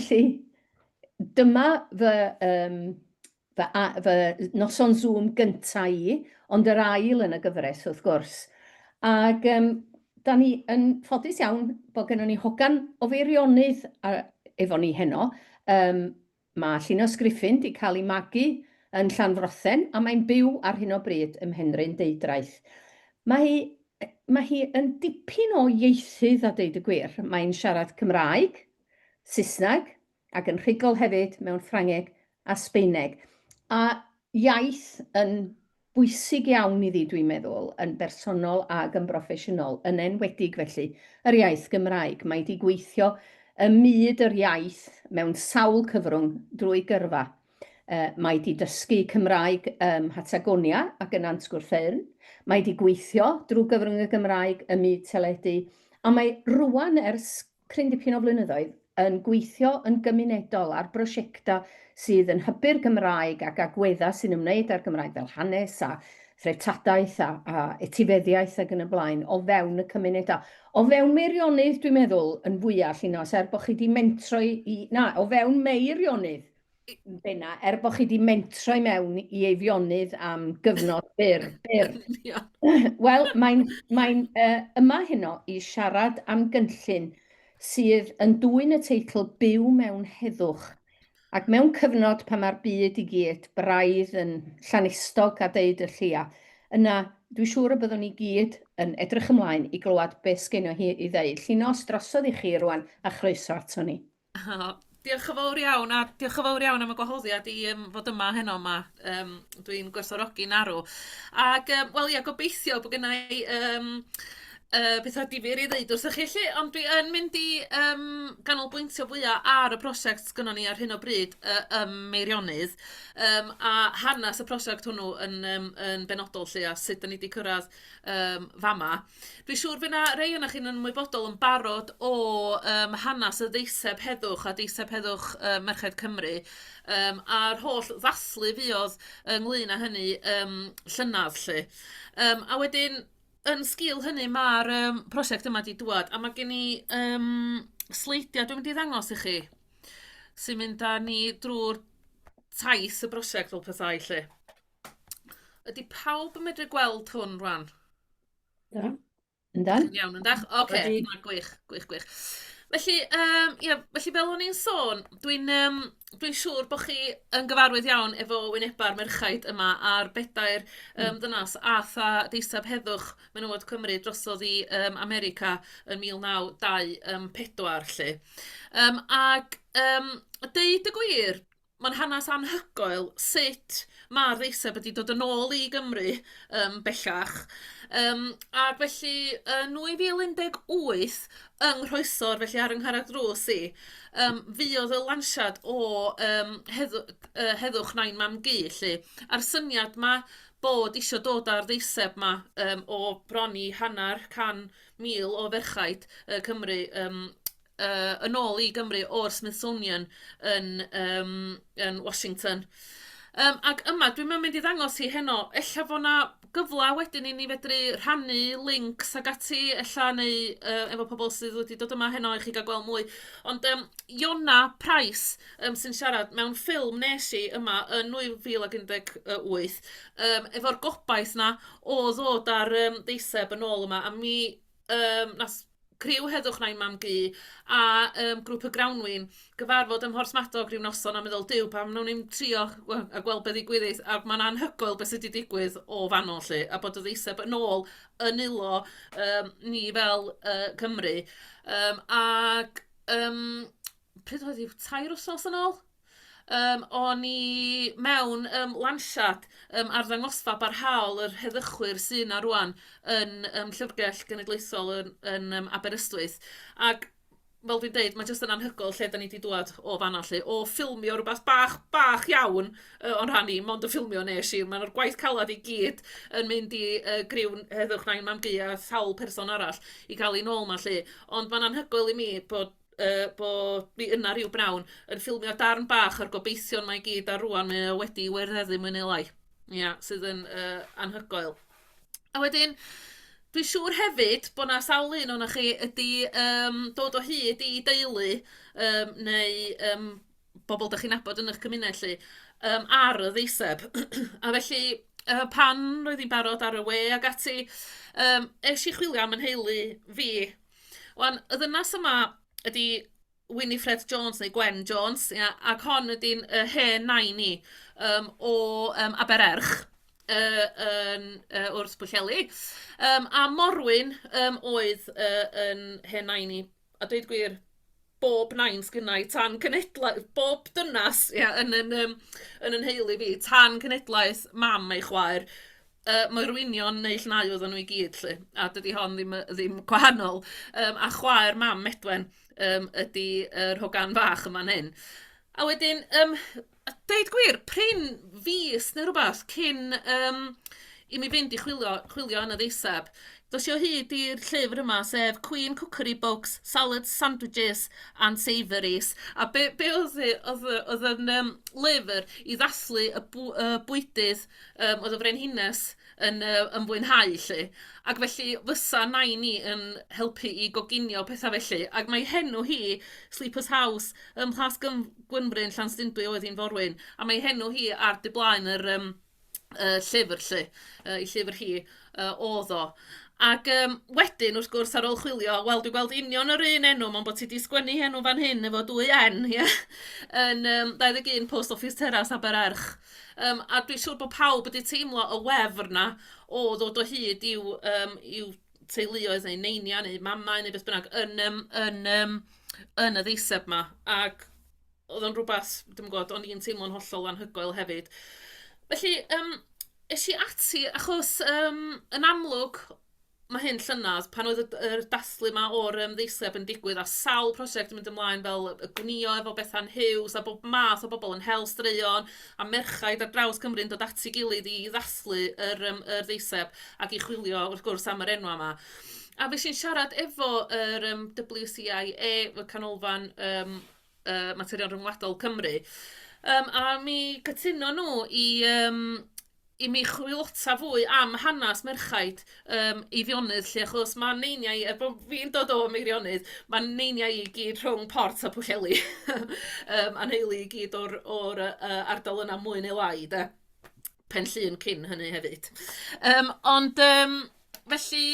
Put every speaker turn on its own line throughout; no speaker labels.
Felly, dyma fy, um, fy, a, fy noson Zoom gyntaf i, ond yr ail yn y gyfres wrth gwrs. Ac um, da ni yn ffodus iawn bod gennym ni hogan o feirionydd efo ni heno, um, Mae Llinos Griffin 'di cael ei magu yn Llanfrothen a mae'n byw ar hyn o bryd ym Mhenrhyn Deudraeth. Mae hi mae hi yn dipyn o ieithydd a deud y gwir, mae'n siarad Cymraeg, Saesneg ac yn rhugl hefyd mewn Ffrangeg a Sbaeneg. A iaith yn bwysig iawn iddi dwi'n meddwl, yn bersonol ag yn broffesiynol, yn enwedig felly, yr iaith Gymraeg. Mae 'di gweithio ym myd yr iaith mewn sawl cyfrwng drwy gyrfa. Mae 'di dysgu Cymraeg ym Mhatagonia ac yn Nant Gwrtheyrn, mae 'di gweithio drwy gyfrwng y Gymraeg ym myd teledu, a mae rŵan ers cryn dipyn o flynyddoedd yn gweithio yn gymunedol ar brosiectau sydd yn hybu'r Gymraeg ac agweddau sy'n ymwneud â'r Gymraeg fel hanes a threftadaeth a, a etifeddiaeth ac yn y blaen o fewn y cymunedau. O fewn Meirionnydd, dwi'n meddwl, yn fwyaf, Llinos, er bod chi wedi mentro i, i... Na, o fewn Meirionnydd. Bena, er bod chi wedi mentro i mewn i eifionydd am gyfnod byr. byr. Wel, mae'n mae uh, yma heno i siarad am gynllun sydd yn dwy'n y teitl Byw mewn heddwch. Ac mewn cyfnod pan mae'r byd i gyd braidd yn llanistog a deud y llia, yna dwi'n siŵr y byddwn ni gyd yn edrych ymlaen i glywed beth sgenio hi i ddeud. Llinos drosodd i chi rwan a chroeso ato ni. O, diolch
yn fawr iawn, a diolch yn fawr iawn am y gwahoddiad i yym fod yma heno 'ma. Yym dwi'n gwerthfawrogi'n arw. Ac yym wel ia, gobeithio bod gynna i yym yy petha difyr i ddeud wrthych chi 'lly, ond dwi yn mynd i yym ganolbwyntio fwya ar y prosiect sgynnon ni ar hyn o bryd yy ym Meirionnydd yym a hanes y prosiect hwnnw yn yym yn benodol 'lly a sut 'dan ni 'di cyrraedd yym fama. Dwi'n siŵr fy' 'na rei onoch chi'n ymwybodol yn barod o yym hanes y ddeiseb heddwch a deiseb heddwch yy Merched Cymru yym a'r holl ddathlu fuodd ynglŷn â hynny yym llynedd 'lly yym a wedyn yn sgîl hynny ma'r yym prosiect yma 'di dŵad a ma' gen i yym sleidia' dwi'n mynd i ddangos i chi sy'n mynd â ni drw'r taith y brosiect fel petai 'lly. Ydy pawb yn medru gweld hwn rwan? Da. Yndan?
Iawn, yndan? Oce, okay.
Wedi... na, gwych, gwych, gwych. Felly, um, yeah, felly fel o'n i'n sôn, dwi'n um, dwi siŵr bod chi yn gyfarwydd iawn efo wyneba'r merchaid yma a'r bedair um, mm. ddynas a tha deiseb heddwch menywod Cymru drosodd i um, America yn 1924. Um, ac um, deud y gwir, Mae'n hanes anhygoel sut mae'r ddeiseb wedi dod yn ôl i Gymru yym bellach yym ac felly yn 2018 yng Nghroesor felly ar 'y ngharreg drws i yym fuodd y lansiad o yym heddw- yy Heddwch Nain Mam Gu 'lly a'r syniad 'ma bod isio dod â'r ddeiseb 'ma yym o bron i hanner can mil o ferched yy Cymru yym yy yn ôl i Gymru o'r Smithsonian yn yym yn Washington yym ac yma dwi'm yn mynd i ddangos hi heno ella fo' 'na gyfla wedyn i ni fedru rhannu lincs ag ati ella neu yy efo pobol sydd wedi dod yma heno i chi ga'l gweld mwy ond yym Iona Price yym sy'n siarad mewn ffilm nes i yma yn 2018 yym efo'r gobaith 'na o ddod â'r yym deiseb yn ôl yma a mi yym nath criw Heddwch Nain Mam Gu a um, grŵp y Grawnwin gyfarfod ym Mhorsmadog rhyw noson a meddwl, diw, pam wnawn ni'n trio a gweld beth ddigwyddith, a mae'n anhygoel beth sydd wedi digwydd o fanol lle, a bod y ddeiseb yn ôl yn ulo um, ni fel uh, Cymru. Um, ac um, pryd oedd hi, tair wythnos yn ôl? Um, o'n i mewn um, lansiad um, arddangosfa barhaol yr heddychwyr sy'n yna rwan yn um, Llyfrgell Genedlaethol yn, yn um, Aberystwyth. Ac fel dwi'n deud, mae jyst yn anhygoel lle da ni wedi dwad o fanna lle, o ffilmio rhywbeth bach, bach iawn uh, o'n rhan i, mond y ffilmio nes i. Mae'r gwaith calad i gyd yn mynd i uh, griw heddwch nain mam gu a sawl person arall i cael ei nôl ma lle. Ond mae'n anhygoel i mi bod yy bod ni yna rhyw bnawn yn ffilmio darn bach o'r gobeithion mae i gyd a rŵan mae o wedi werddeddu mwy neu lai. Ia, sydd yn yy anhygoel. A wedyn dwi'n siŵr hefyd bod 'na sawl un o'na chi ydi yym dod o hyd i deulu yym neu yym bobl dach chi'n nabod yn eich cymuned 'lly yym ar y ddeiseb a felly yy pan roedd hi'n barod ar y we ac ati yym es i chwilio am 'y nheulu fi Wan, y ddynas yma ydy Winifred Jones neu Gwen Jones, ia, ac hon ydy'n yy, hen nain i yym, o yym, Abererch yy, yn, yy, wrth Bwllheli. Yym, a Morwyn yym, oedd yy, yn hen nain i. A dweud gwir, bob nain sgynnai tan cenedlau bob dynas ia yn yn yym yn 'y nheulu fi tan cenedlaeth mam a'i chwaer yy moerwynion neu llnau oedden nhw i gyd 'lly a dydi hon ddim yy ddim gwahanol yym a chwaer mam Medwen yym ydi yr hogan fach yn fan hyn. A wedyn yym A deud gwir, prin fis neu rywbeth cyn yym i mi fynd i chwilio chwilio yn y ddeiseb, dos i o hyd i'r llyfr yma, sef Queen Cookery Books, Salads, Sandwiches and Savouries. A be' be' odd hi odd y odd yn yym lyfr i ddathlu y bw- y bwydydd yym oedd y frenhines yn yy yn fwynhau 'lly. Ac felly fysa nain i yn helpu i goginio petha felly ac mae henw hi Sleepers House ym Mhlasgym Gwynfryn, Llanstundwy oedd hi'n forwyn, a mae ei henw hi ar du blaen yr yym y llyfr 'lly, yy ei llyfr hi yy oedd o. Ac yym wedyn wrth gwrs ar ôl chwilio, wel dwi'n gweld union yr un enw mond bod ti 'di sgwennu ei enw fan hyn efo dwy N ie yn yym 21 Post Office Terrace Abererch. Yym a dwi'n siŵr bod pawb wedi teimlo y wefr 'na o ddod o hyd i'w yym i'w teuluoedd neu neiniau neu mamau neu beth bynnag yn yym yn yym yn y ddeiseb 'ma ac oedd o'n rwbath dwi'm yn gwybod o'n i'n teimlo'n hollol anhygoel hefyd. Felly yym es i ati achos yym yn amlwg mae hyn llynedd pan oedd y d- yr dathlu 'ma o'r yym ddeiseb yn digwydd a sawl prosiect yn mynd ymlaen fel yy gwnïo efo Bethan Huws a bob math o bobl yn hel straeon. a merchaid ar draws Cymru yn dod at ei gilydd i ddathlu yr yym yr ddeiseb ac i chwilio wrth gwrs am yr enwau 'ma. A fues i'n siarad efo yr yym WCIA, y Canolfan yym yy Materion Rhyngwladol Cymru yym a mi cytunon nhw i yym i mi chwilota fwy am hanes merchaid um, Eifionydd lle, achos mae neiniau, er bod fi'n dod o Meirionydd, mae neiniau i gyd rhwng Port a Pwllheli. um, a nheulu i gyd o'r, or, uh, ardal yna mwy neu lai, de. Pen llun cyn hynny hefyd. Um, ond, um, felly,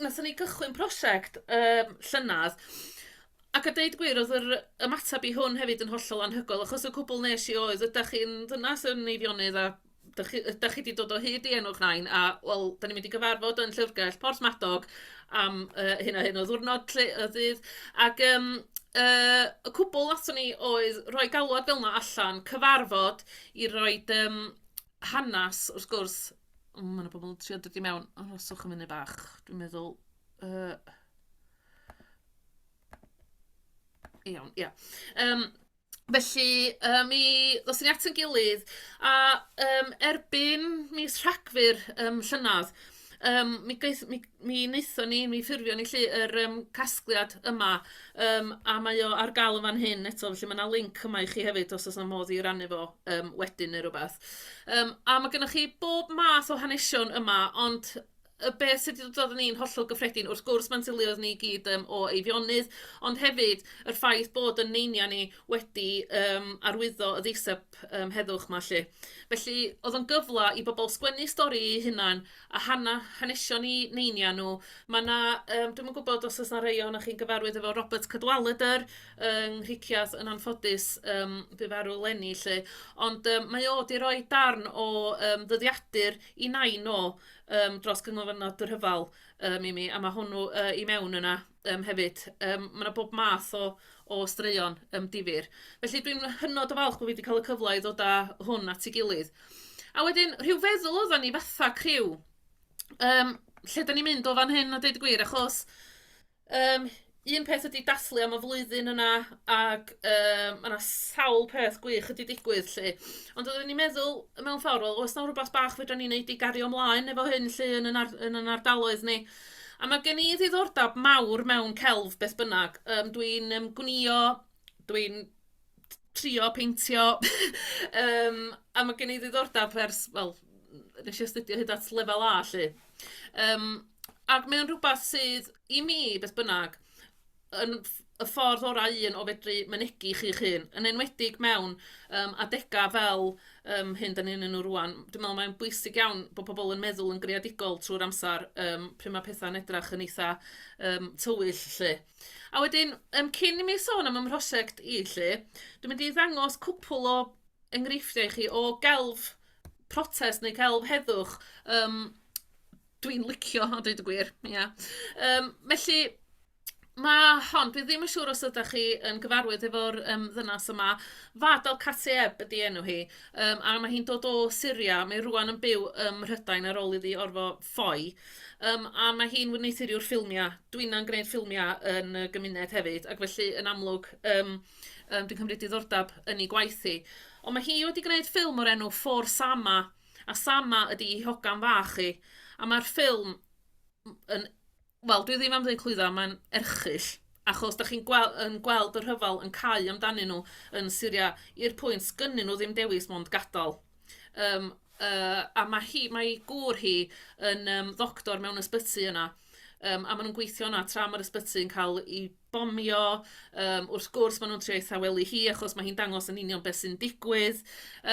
nath ni gychwyn prosiect um, llynedd, Ac a deud gwir oedd yr ymateb i hwn hefyd yn hollol anhygoel achos y cwbl wnes i oedd ydych chi'n ddynas yn Eifionydd a dych chi... ydych chi 'di dod o hyd i enw'ch nain a wel dan ni'n mynd i gyfarfod yn Llyfrgell Porthmadog am yy hyn a hyn o ddiwrnod 'lly o ddydd ac yym yy y cwbl aton ni oedd rhoi galwad fel 'na allan, cyfarfod i roid yym hanes wrth gwrs. O ma' 'na pobl yn trio dod i mewn. Arhoswch am funud bach dwi'n meddwl yy... Iawn, ia. Yym, felly, yy, mi ddoes ni at ein gilydd, a yym erbyn mis Rhagfyr yym llynedd, yym mi gaeth... mi mi wnaethon ni, mi ffurfion ni 'lly yr yym casgliad yma, yym a mae o ar gael yn fan hyn eto, felly ma' 'na linc yma i chi hefyd os oes 'na modd i rannu fo yym wedyn neu rywbeth. Yym a ma' gynnoch chi bob math o hanesion yma, ond y beth sydd 'di dod droddon ni'n hollol gyffredin, wrth gwrs mae'n syliodd ni i gyd um, o Eifionydd, ond hefyd yr ffaith bod yn neiniau ni wedi um, arwyddo y ddeiseb um, heddwch yma lle. Felly oedd o'n gyfle i bobl sgwennu stori eu hunan a hana, hanesion i neiniau nhw. Mae yna, um, dwi'n yn gwybod os oes yna rei o'na chi'n gyfarwydd efo Robert Cadwaladr yng Nghrichiath yn anffodus um, bu farw lenni lle, ond um, mae o wedi rhoi darn o um, ddyddiadur i nain o yym dros Ganolfannau Dŷ Rhyfel yym i mi, a ma' hwnnw yy i mewn yna yym hefyd. Yym ma' 'na bob math o o straeon yym difyr. Felly dwi'n hynod o falch bod fi 'di cael y cyfle i ddod â hwn at ei gilydd. A wedyn rhyw feddwl oeddan ni fatha criw yym lle 'dan ni'n mynd o fan hyn a deud y gwir achos Yym un peth ydy dathlu am y flwyddyn yna ac yym ma' 'na sawl peth gwych wedi digwydd 'lly ond oeddwn i'n meddwl mewn ffordd wel oes 'na rywbeth bach fedrwn ni wneud i gario mlaen efo hyn 'lly yn yn ar- yn yn ardaloedd ni a ma' gen i ddiddordeb mawr mewn celf beth bynnag yym dwi'n yym gwnïo dwi'n trio peintio yym a ma' gen i ddiddordeb ers wel wnes i astudio hyd at lefel A 'lly yym ac mae o'n rhywbeth sydd i mi beth bynnag yn ff- y ffordd orau un o fedru mynegi chi'ch hun, yn enwedig mewn yym adegau fel yym hyn dan ni ynnyn nhw rŵan. Dwi'n meddwl mae'n bwysig iawn bod pobl yn meddwl yn greadigol trwy'r amser yym pryd ma' pethau'n edrych yn eitha yym tywyll 'lly. A wedyn, yym, cyn i mi sôn am 'y mhrosiect i 'lly, dwi'n mynd i ddangos cwpwl o enghreifftiau i chi o gelf protest neu celf heddwch yym dwi'n licio a dweud y gwir, ia. Yym felly, ma' hon, dwi ddim yn siŵr os ydych chi yn gyfarwydd efo'r yym ddynes yma, Fahd al Kateb ydi enw hi, yym a ma' hi'n dod o Syria, mae rŵan yn byw ym Mhrydain ar ôl iddi orfod ffoi yym a ma' hi'n wneuthuriwr ffilmiau. Dw inna'n gwneud ffilmiau yn y gymuned hefyd ac felly yn amlwg yym yym dwi'n cymryd diddordeb yn ei gwaith hi. Ond mae hi wedi gwneud ffilm o'r enw For Sama a Sama ydi ei hogan fach hi a mae'r ffilm m- yn wel, dwi ddim am ddweud clwyddo, mae'n erchyll, achos da chi'n gweld, yn gweld y rhyfel yn cael amdanyn nhw yn Syria i'r pwynt gynnyn nhw ddim dewis mond gadael. Um, uh, a mae, hi, mae gŵr hi yn um, ddoctor mewn ysbyty yna, um, a maen nhw'n gweithio yna tra mae'r ysbyty yn cael ei bomio, um, wrth gwrs maen nhw'n trio ei thawelu hi achos mae hi'n dangos yn union beth sy'n digwydd.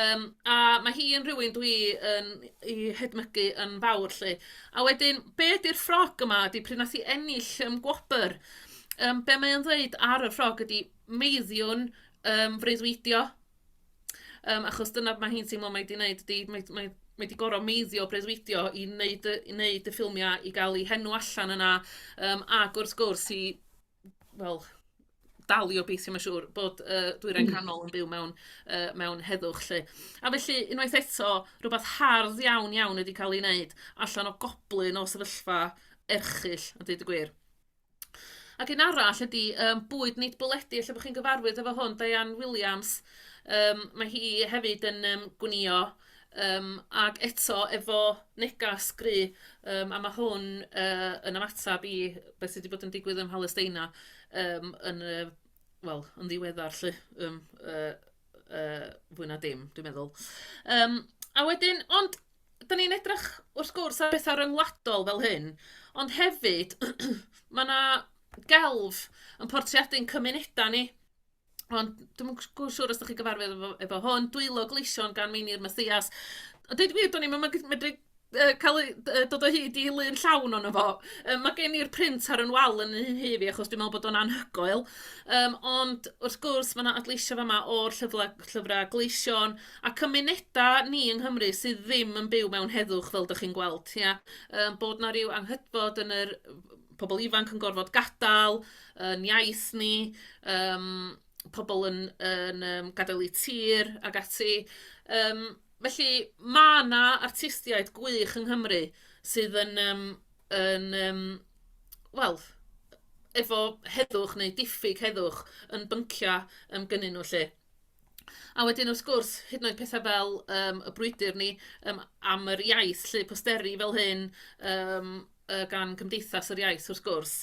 Um, a mae hi yn rhywun dwi yn ei hedmygu yn fawr lle. A wedyn, be ydy'r ffrog yma ydy pryd nath hi ennill um, gwobr? Um, be mae'n dweud ar y ffrog ydy meiddiwn um, freuddwydio Yym, achos dyna be mae hi'n teimlo mae hi 'di wneud ydy, mae mae mae 'di gorfod meiddio, breuddwydio i wneud y i wneud y ffilmiau, i gael ei henw allan yna, yym, ac wrth gwrs i, wel, dal i obeithio mae'n siŵr, bod y Dwyrain hmm. Canol yn byw mewn, uh, mewn heddwch lle. A felly, unwaith eto, rhywbeth hardd iawn iawn wedi cael ei wneud allan o goblyn o sefyllfa erchill, a dweud y gwir. Ac un arall ydy um, bwyd nid bwledi, lle bod chi'n gyfarwydd efo hwn, Diane Williams. Um, mae hi hefyd yn um, gwnio um, ac eto efo negas gry, um, a mae hwn uh, yn ymateb i beth sydd wedi bod yn digwydd ym Mhalesteina um, yn, uh, well, yn ddiweddar, lle, um, uh, uh, fwy na dim, dwi'n meddwl. Um, a wedyn, ond dan ni'n edrych wrth gwrs ar bethau ryngwladol fel hyn, ond hefyd mae 'na gelf yn portreadu ein cymunedau ni. Ond dwi'm yn gw- siŵr os ydych chi'n gyfarwydd efo efo hwn, dwylo gleision gan Meinir Mathias. A deud y gwir, do'n i'm yn mygyd- medru yy cael ei- d- yy dod o hyd i lun llawn ohono fo. Yy ma' gen i'r print ar 'yn wal yn 'y nhŷ fi achos dwi'n meddwl bod o'n anhygoel. Yym ond wrth gwrs ma' 'na adleision fama o'r llyfla- llyfrau gleision. A cymuneda ni yng Nghymru sydd ddim yn byw mewn heddwch fel dych chi'n gweld, ia? Yym bod 'na ryw anghydfod yn yr pobl ifanc yn gorfod gadael, yn iaith ni, yym pobl yn yn yym gadael eu tir ac ati. Yym felly ma' 'na artistiaid gwych yng Nghymru sydd yn yym yn yym wel efo heddwch neu diffyg heddwch yn byncia yym gynnyn nhw 'lly. A wedyn wrth gwrs, hyd yn oed pethe fel yym y brwydr ni yym am yr iaith 'lly, posteri fel hyn yym yy gan Gymdeithas yr Iaith wrth gwrs,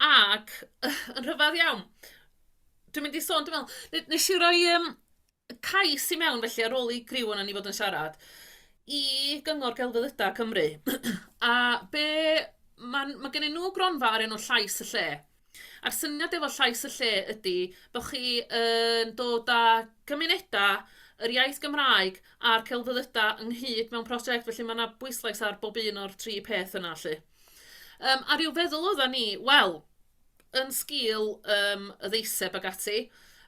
ac yn rhyfedd iawn, dwi'n mynd i sôn dwi'n meddwl, ne- wnes i roi yym cais i mewn felly ar ôl i griw ohonon ni fod yn siarad i Gyngor Gelfyddydau Cymru a be... ma'n ma' gennyn nhw gronfa o'r enw Llais y Lle. A'r syniad efo Llais y Lle ydy bod chi yn dod â cymunedau, yr iaith Gymraeg a'r celfyddydau ynghyd mewn prosiect, felly mae yna bwyslais ar bob un o'r tri peth yna lly. Um, a rhyw feddwl oedda ni, wel, yn sgil um, y ddeiseb ag ati,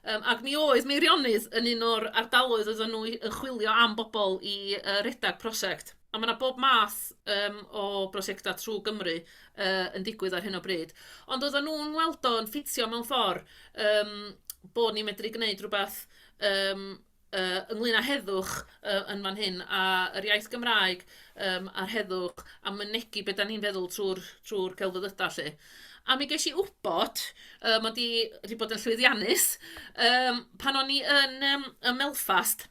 Um, ac mi oedd Meirionydd yn un o'r ardaloedd oedden nhw yn chwilio am bobl i uh, redag prosiect. A ma' 'na bob math yym o brosiectau trwy Gymru yy yn digwydd ar hyn o bryd, ond oeddan nhw'n weld o'n ffitio mewn ffordd yym bod ni'n medru gwneud rywbeth yym yy ynglŷn â heddwch yy yn fan hyn, a yr iaith Gymraeg yym a'r heddwch a mynegi be dan ni'n feddwl trwy'r trwy'r celfyddydau 'lly. A mi ges i wybod, yy mod i wedi bod yn llwyddiannus yym pan o'n i yn yym ym Melfast,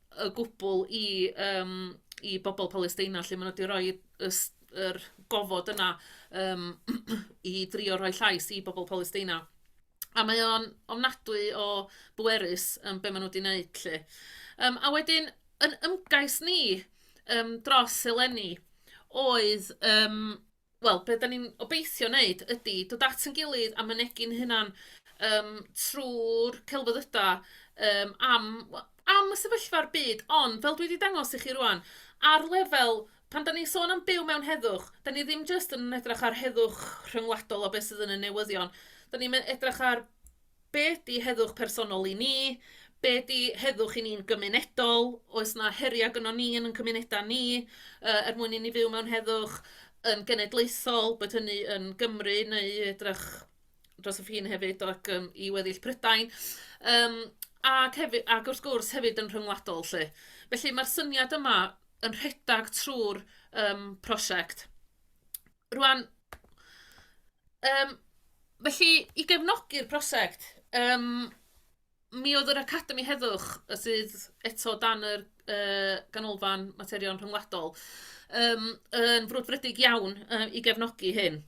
o gwbl i yym i bobl Palesteina 'lly, maen nhw 'di rhoi y s- yr gofod yna yym i drio rhoi llais i bobl Palesteina, a mae o'n ofnadwy o bwerus yym be maen nhw 'di wneud 'lly. Yym a wedyn yn ymgais ni yym dros eleni oedd yym... wel, be dan ni'n obeithio wneud ydy dod at ein gilydd a mynegi'n hunan yym trwy'r celfyddydau yym am w- am y sefyllfa'r byd, ond fel dwi wedi dangos i chi rŵan, ar lefel, pan dan ni'n sôn am byw mewn heddwch, dan ni ddim jyst yn edrych ar heddwch rhyngwladol o beth sydd yn y newyddion, dan ni'n edrych ar Be ydy heddwch personol i ni? Be ydy heddwch i ni'n gymunedol? Oes 'na heriau gynnon ni yn ein cymunedau ni yy er mwyn i ni fyw mewn heddwch yn genedlaethol, bod hynny yn Gymru neu i edrych dros y ffin hefyd ac yym i weddill Prydain yym ac hefyd... ac wrth gwrs hefyd yn rhyngwladol 'lly. Felly ma'r syniad yma yn rhedeg trwy'r yym prosiect. Rwan, um, felly, i gefnogi'r prosiect, um, mi oedd yr Academi Heddwch sydd eto dan yr uh, ganolfan materion rhyngwladol um, yn frwdfrydig iawn uh, i gefnogi hyn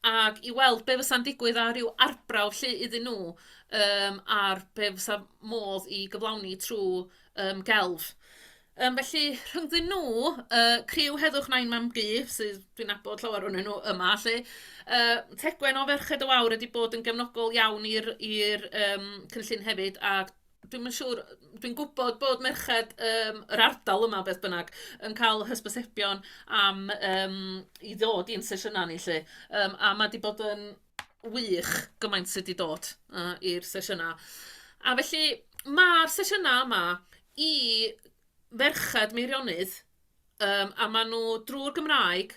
ac i weld be fysa'n digwydd ar ryw arbrawf lle iddyn nhw um, ar be fysa modd i gyflawni trwy um, gelf. Yym felly rhyngddyn nhw, y criw Heddwch Nain Mam-gu, sydd dwi'n nabod llawer ohonyn nhw yma 'lly, yy Tegwen o Ferched y Wawr wedi bod yn gefnogol iawn i'r i'r yym cynllun hefyd, a dwi'm yn siŵr... dwi'n gwybod bod merched yym yr ardal yma beth bynnag yn cael hysbysebion am yym i ddod i'n sesiynau ni 'lly, yym a ma' 'di bod yn... wych gymaint sy' 'di dod yy i'r sesiyna a felly ma'r sesiyna yma i ferched Meirionnydd yym a ma' nhw drw'r Gymraeg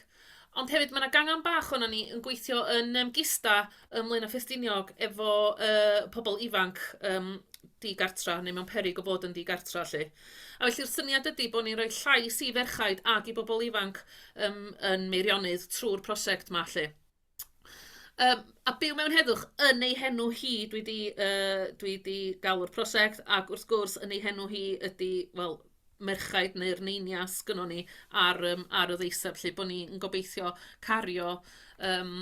ond hefyd ma' 'na gangen bach ohonon ni yn gweithio yn yym Gista ym Mlaenau Ffestiniog efo yy pobl ifanc yym di-gartra neu mewn peryg o fod yn ddi-gartra 'lly a felly'r syniad ydi bod ni'n rhoi llais i ferchaid ac i bobl ifanc yym yn Meirionnydd trwy'r prosiect 'ma 'lly. Yym a byw mewn heddwch yn ei henw hi dwi 'di yy dwi 'di galw'r prosiect ac wrth gwrs yn ei henw hi ydi wel merchaid neu'r neinias gynnon ni ar yym ar y ddeiseb 'lly bo' ni'n gobeithio cario yym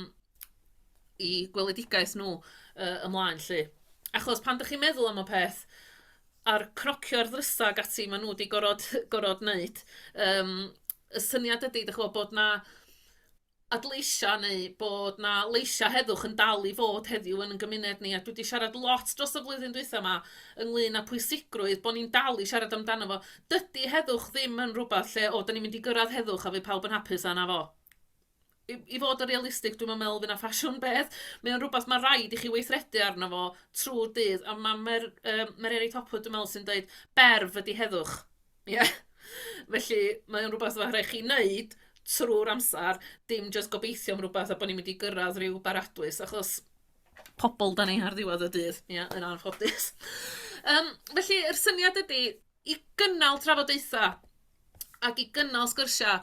'u gweledigaeth nhw yy ymlaen 'lly. Achos pan 'dach chi'n meddwl am y peth a'r cnocio'r ddrysa' ac ati ma' nhw 'di gorod gorod neud yym y syniad ydi dych ch'mo' bod 'na adleisio neu bod 'na leisiau heddwch yn dal i fod heddiw yn ein gymuned ni a dwi 'di siarad lot dros y flwyddyn dwytha 'ma ynglŷn â pwysigrwydd bod ni'n dal i siarad amdano fo. Dydy heddwch ddim yn rhywbeth lle o 'dan ni'n mynd i gyrraedd heddwch a fydd pawb yn hapus a 'na fo. I i fod yn realistig dwi'm yn meddwl fydd 'na ffasiwn beth. Mae o'n rhywbeth ma' raid i chi weithredu arno fo trwy'r dydd a ma' Mer- yy Mererid Hopwood dwi'n meddwl sy'n deud berf ydi heddwch. Ie felly mae o'n rywbeth ma' raid chi wneud trwy'r amser, dim jyst gobeithio am rywbeth a bod ni'n mynd i gyrraedd ryw baradwys achos pobl dan ni ar ddiwedd y dydd, ia, yn anffodus. Yym felly yr syniad ydi i gynnal trafodaetha ac i gynnal sgyrsia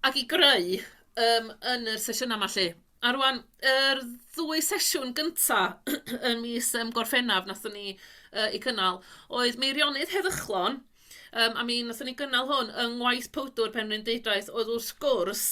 ac i greu yym yn y sesiyna 'ma 'lly. A rŵan yr ddwy sesiwn gynta yn mis yym Gorffennaf wnaethon ni yy eu cynnal oedd Meirionnydd Heddychlon yym a mi wnaethon ni gynnal hwn yng ngwaith powdwr Penrhyn Deudraeth oedd wrth gwrs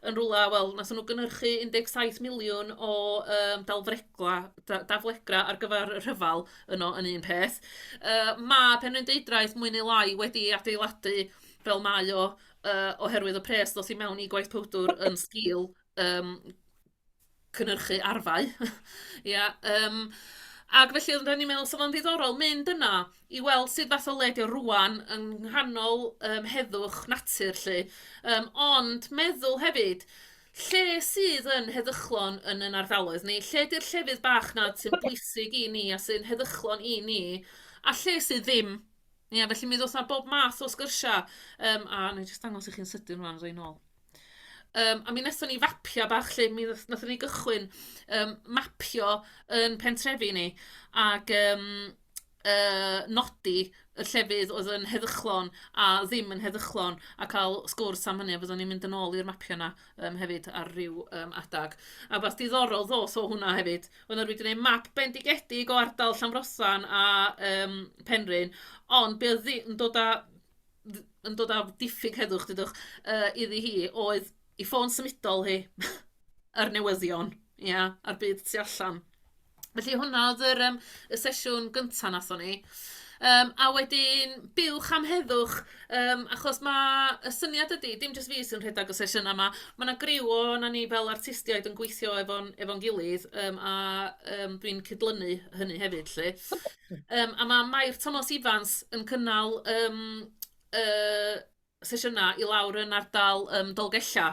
yn rywle wel wnaethon nhw gynhyrchu 17 miliwn o yym dalfregla- da- daflegrau ar gyfer y rhyfel yno yn un peth. Yy ma' Penrhyn Deudraeth mwy neu lai wedi ei adeiladu fel mae o yy oherwydd y pres ddoth i mewn i gwaith powdwr yn sgil yym cynhyrchu arfau ia yym ac felly oedden ni'n meddwl 'sa fo'n ddiddorol mynd yno i weld sut fath o le ydy o rŵan yng nghanol yym heddwch natur 'lly yym ond meddwl hefyd lle sydd yn heddychlon yn ein ardaloedd ni? Lle 'di'r llefydd bach 'na sy'n bwysig i ni a sy'n heddychlon i ni a lle sydd ddim? Ia felly mi ddoth 'na bob math o sgyrsiau yym a wna i jyst dangos i chi'n sydyn rŵan os a i nôl. Yym, a mi wnaethon ni fapio bach 'lly, mi wnaeth- wnaethon ni gychwyn yym mapio yn pentrefi ni ac yym yy nodi y llefydd oedd yn heddychlon a ddim yn heddychlon a cael sgwrs am hynny a fyddwn ni'n mynd yn ôl i'r mapio 'na yym hefyd ar ryw yym adeg. A wbath diddorol ddoth o hwnna hefyd, oedd 'na rywun 'di wneud map bendigedig o ardal Llanfrothan a yym Penrhyn, ond be oedd ddi- yn dod â dd- yn dod â diffyg heddwch dudwch yy iddi hi oedd ei ffôn symudol hi a'r newyddion ia a'r byd tu allan. Felly hwnna oedd yr yym y sesiwn gynta' wnaethon ni yym a wedyn buwch am heddwch yym achos ma' y syniad ydi dim jyst fi sy'n rhedeg y sesiynau 'ma ma' 'na griw ohonan ni fel artistiaid yn gweithio efo'n efo'n gilydd yym a yym dwi'n cydlynu hynny hefyd 'lly. Yym a ma' Mair Tomos Ifans yn cynnal yym y sesiynau i lawr yn ardal yym Dolgella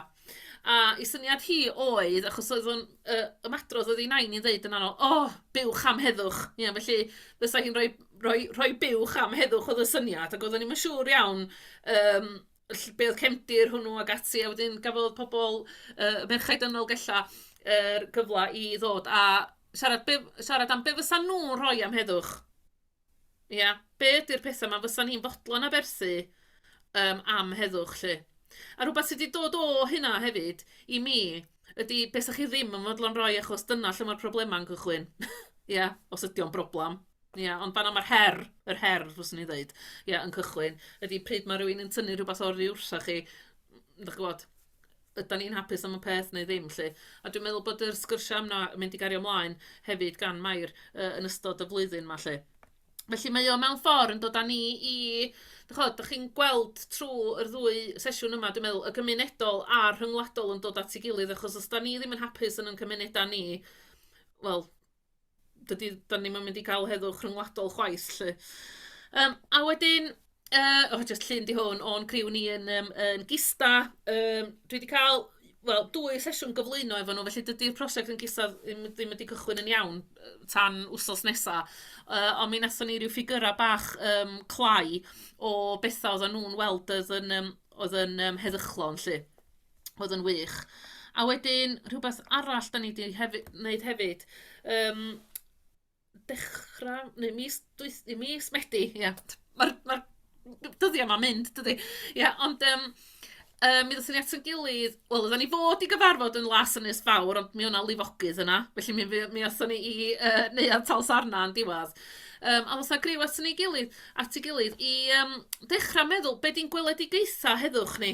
a ei syniad hi oedd, achos oedd o'n yy ymadrodd oedd ei nain hi'n ddeud yn aml "O! buwch am heddwch!" Ie felly fysa hi'n rhoi rhoi rhoi buwch am heddwch oedd y syniad ac oedden ni'm yn siŵr iawn yym ll- be oedd cefndir hwnnw ac ati a wedyn gafodd pobl yy y merchaid yn Nolgella yr gyfle i ddod a Siarad, be, siarad am be fysa nhw'n rhoi am heddwch. Ia, yeah. be ydy'r pethau yma fysa ni'n fodlon aberthu um, am heddwch lle. A rhywbeth sydd wedi dod o hynna hefyd i mi ydy be sa'ch chi ddim yn fodlon rhoi achos dyna lle mae'r problemau'n cychwyn. Ia, yeah, os ydy o'n broblem. Ia, yeah, ond fanna mae'r her, yr her, fyswn i'n dweud, ia, yeah, yn cychwyn, ydy pryd mae rhywun yn tynnu rhywbeth o'r rhyw wrthoch chi, ydych chi'n gwybod, ydan ni'n hapus am y peth neu ddim 'lly. A dwi'n meddwl bod yr sgyrsia' yna yn mynd i gario mlaen hefyd gan Mair yy yn ystod y flwyddyn 'ma 'lly. Felly mae o mewn ffordd yn dod â ni i ch'od dach chi'n gweld trw yr ddwy sesiwn yma dwi'n meddwl y gymunedol a'r rhyngwladol yn dod at ei gilydd achos os 'dan ni ddim yn hapus yn 'yn cymuneda' ni wel dydy, da ni'n mynd i gael heddwch rhyngwladol chwaith, lle. Um, a wedyn, uh, oh, just llun di hwn, o'n criw ni yn, um, yn gista, um, dwi wedi cael wel, dwy sesiwn gyflwyno efo nhw, felly dydy'r prosiect yn gisa ddim wedi cychwyn yn iawn tan wsos nesaf. Uh, ond mi nathon ni rhyw ffigurau bach um, clai o bethau oedden nhw'n weld oedd yn, um, oedd yn um, heddychlon, lle. oedd yn wych. A wedyn rhywbeth arall dan ni 'di hefu- wneud hefyd yym dechrau neu mis dwyth- neu mis Medi ia ma'r ma'r dyddiau 'ma'n mynd dydi ia ond yym yym mi ddaethon ni at ein gilydd wel oeddan ni fod i gyfarfod yn Las Ynys Fawr ond mi oedd 'na lifogydd yna felly mi fuo- mi aethon ni i yy Neuadd Talsarna yn diwedd yym ond oes 'na griw aton ni gilydd at ei gilydd i yym dechrau meddwl be 'di'n gweledigaethau heddwch ni?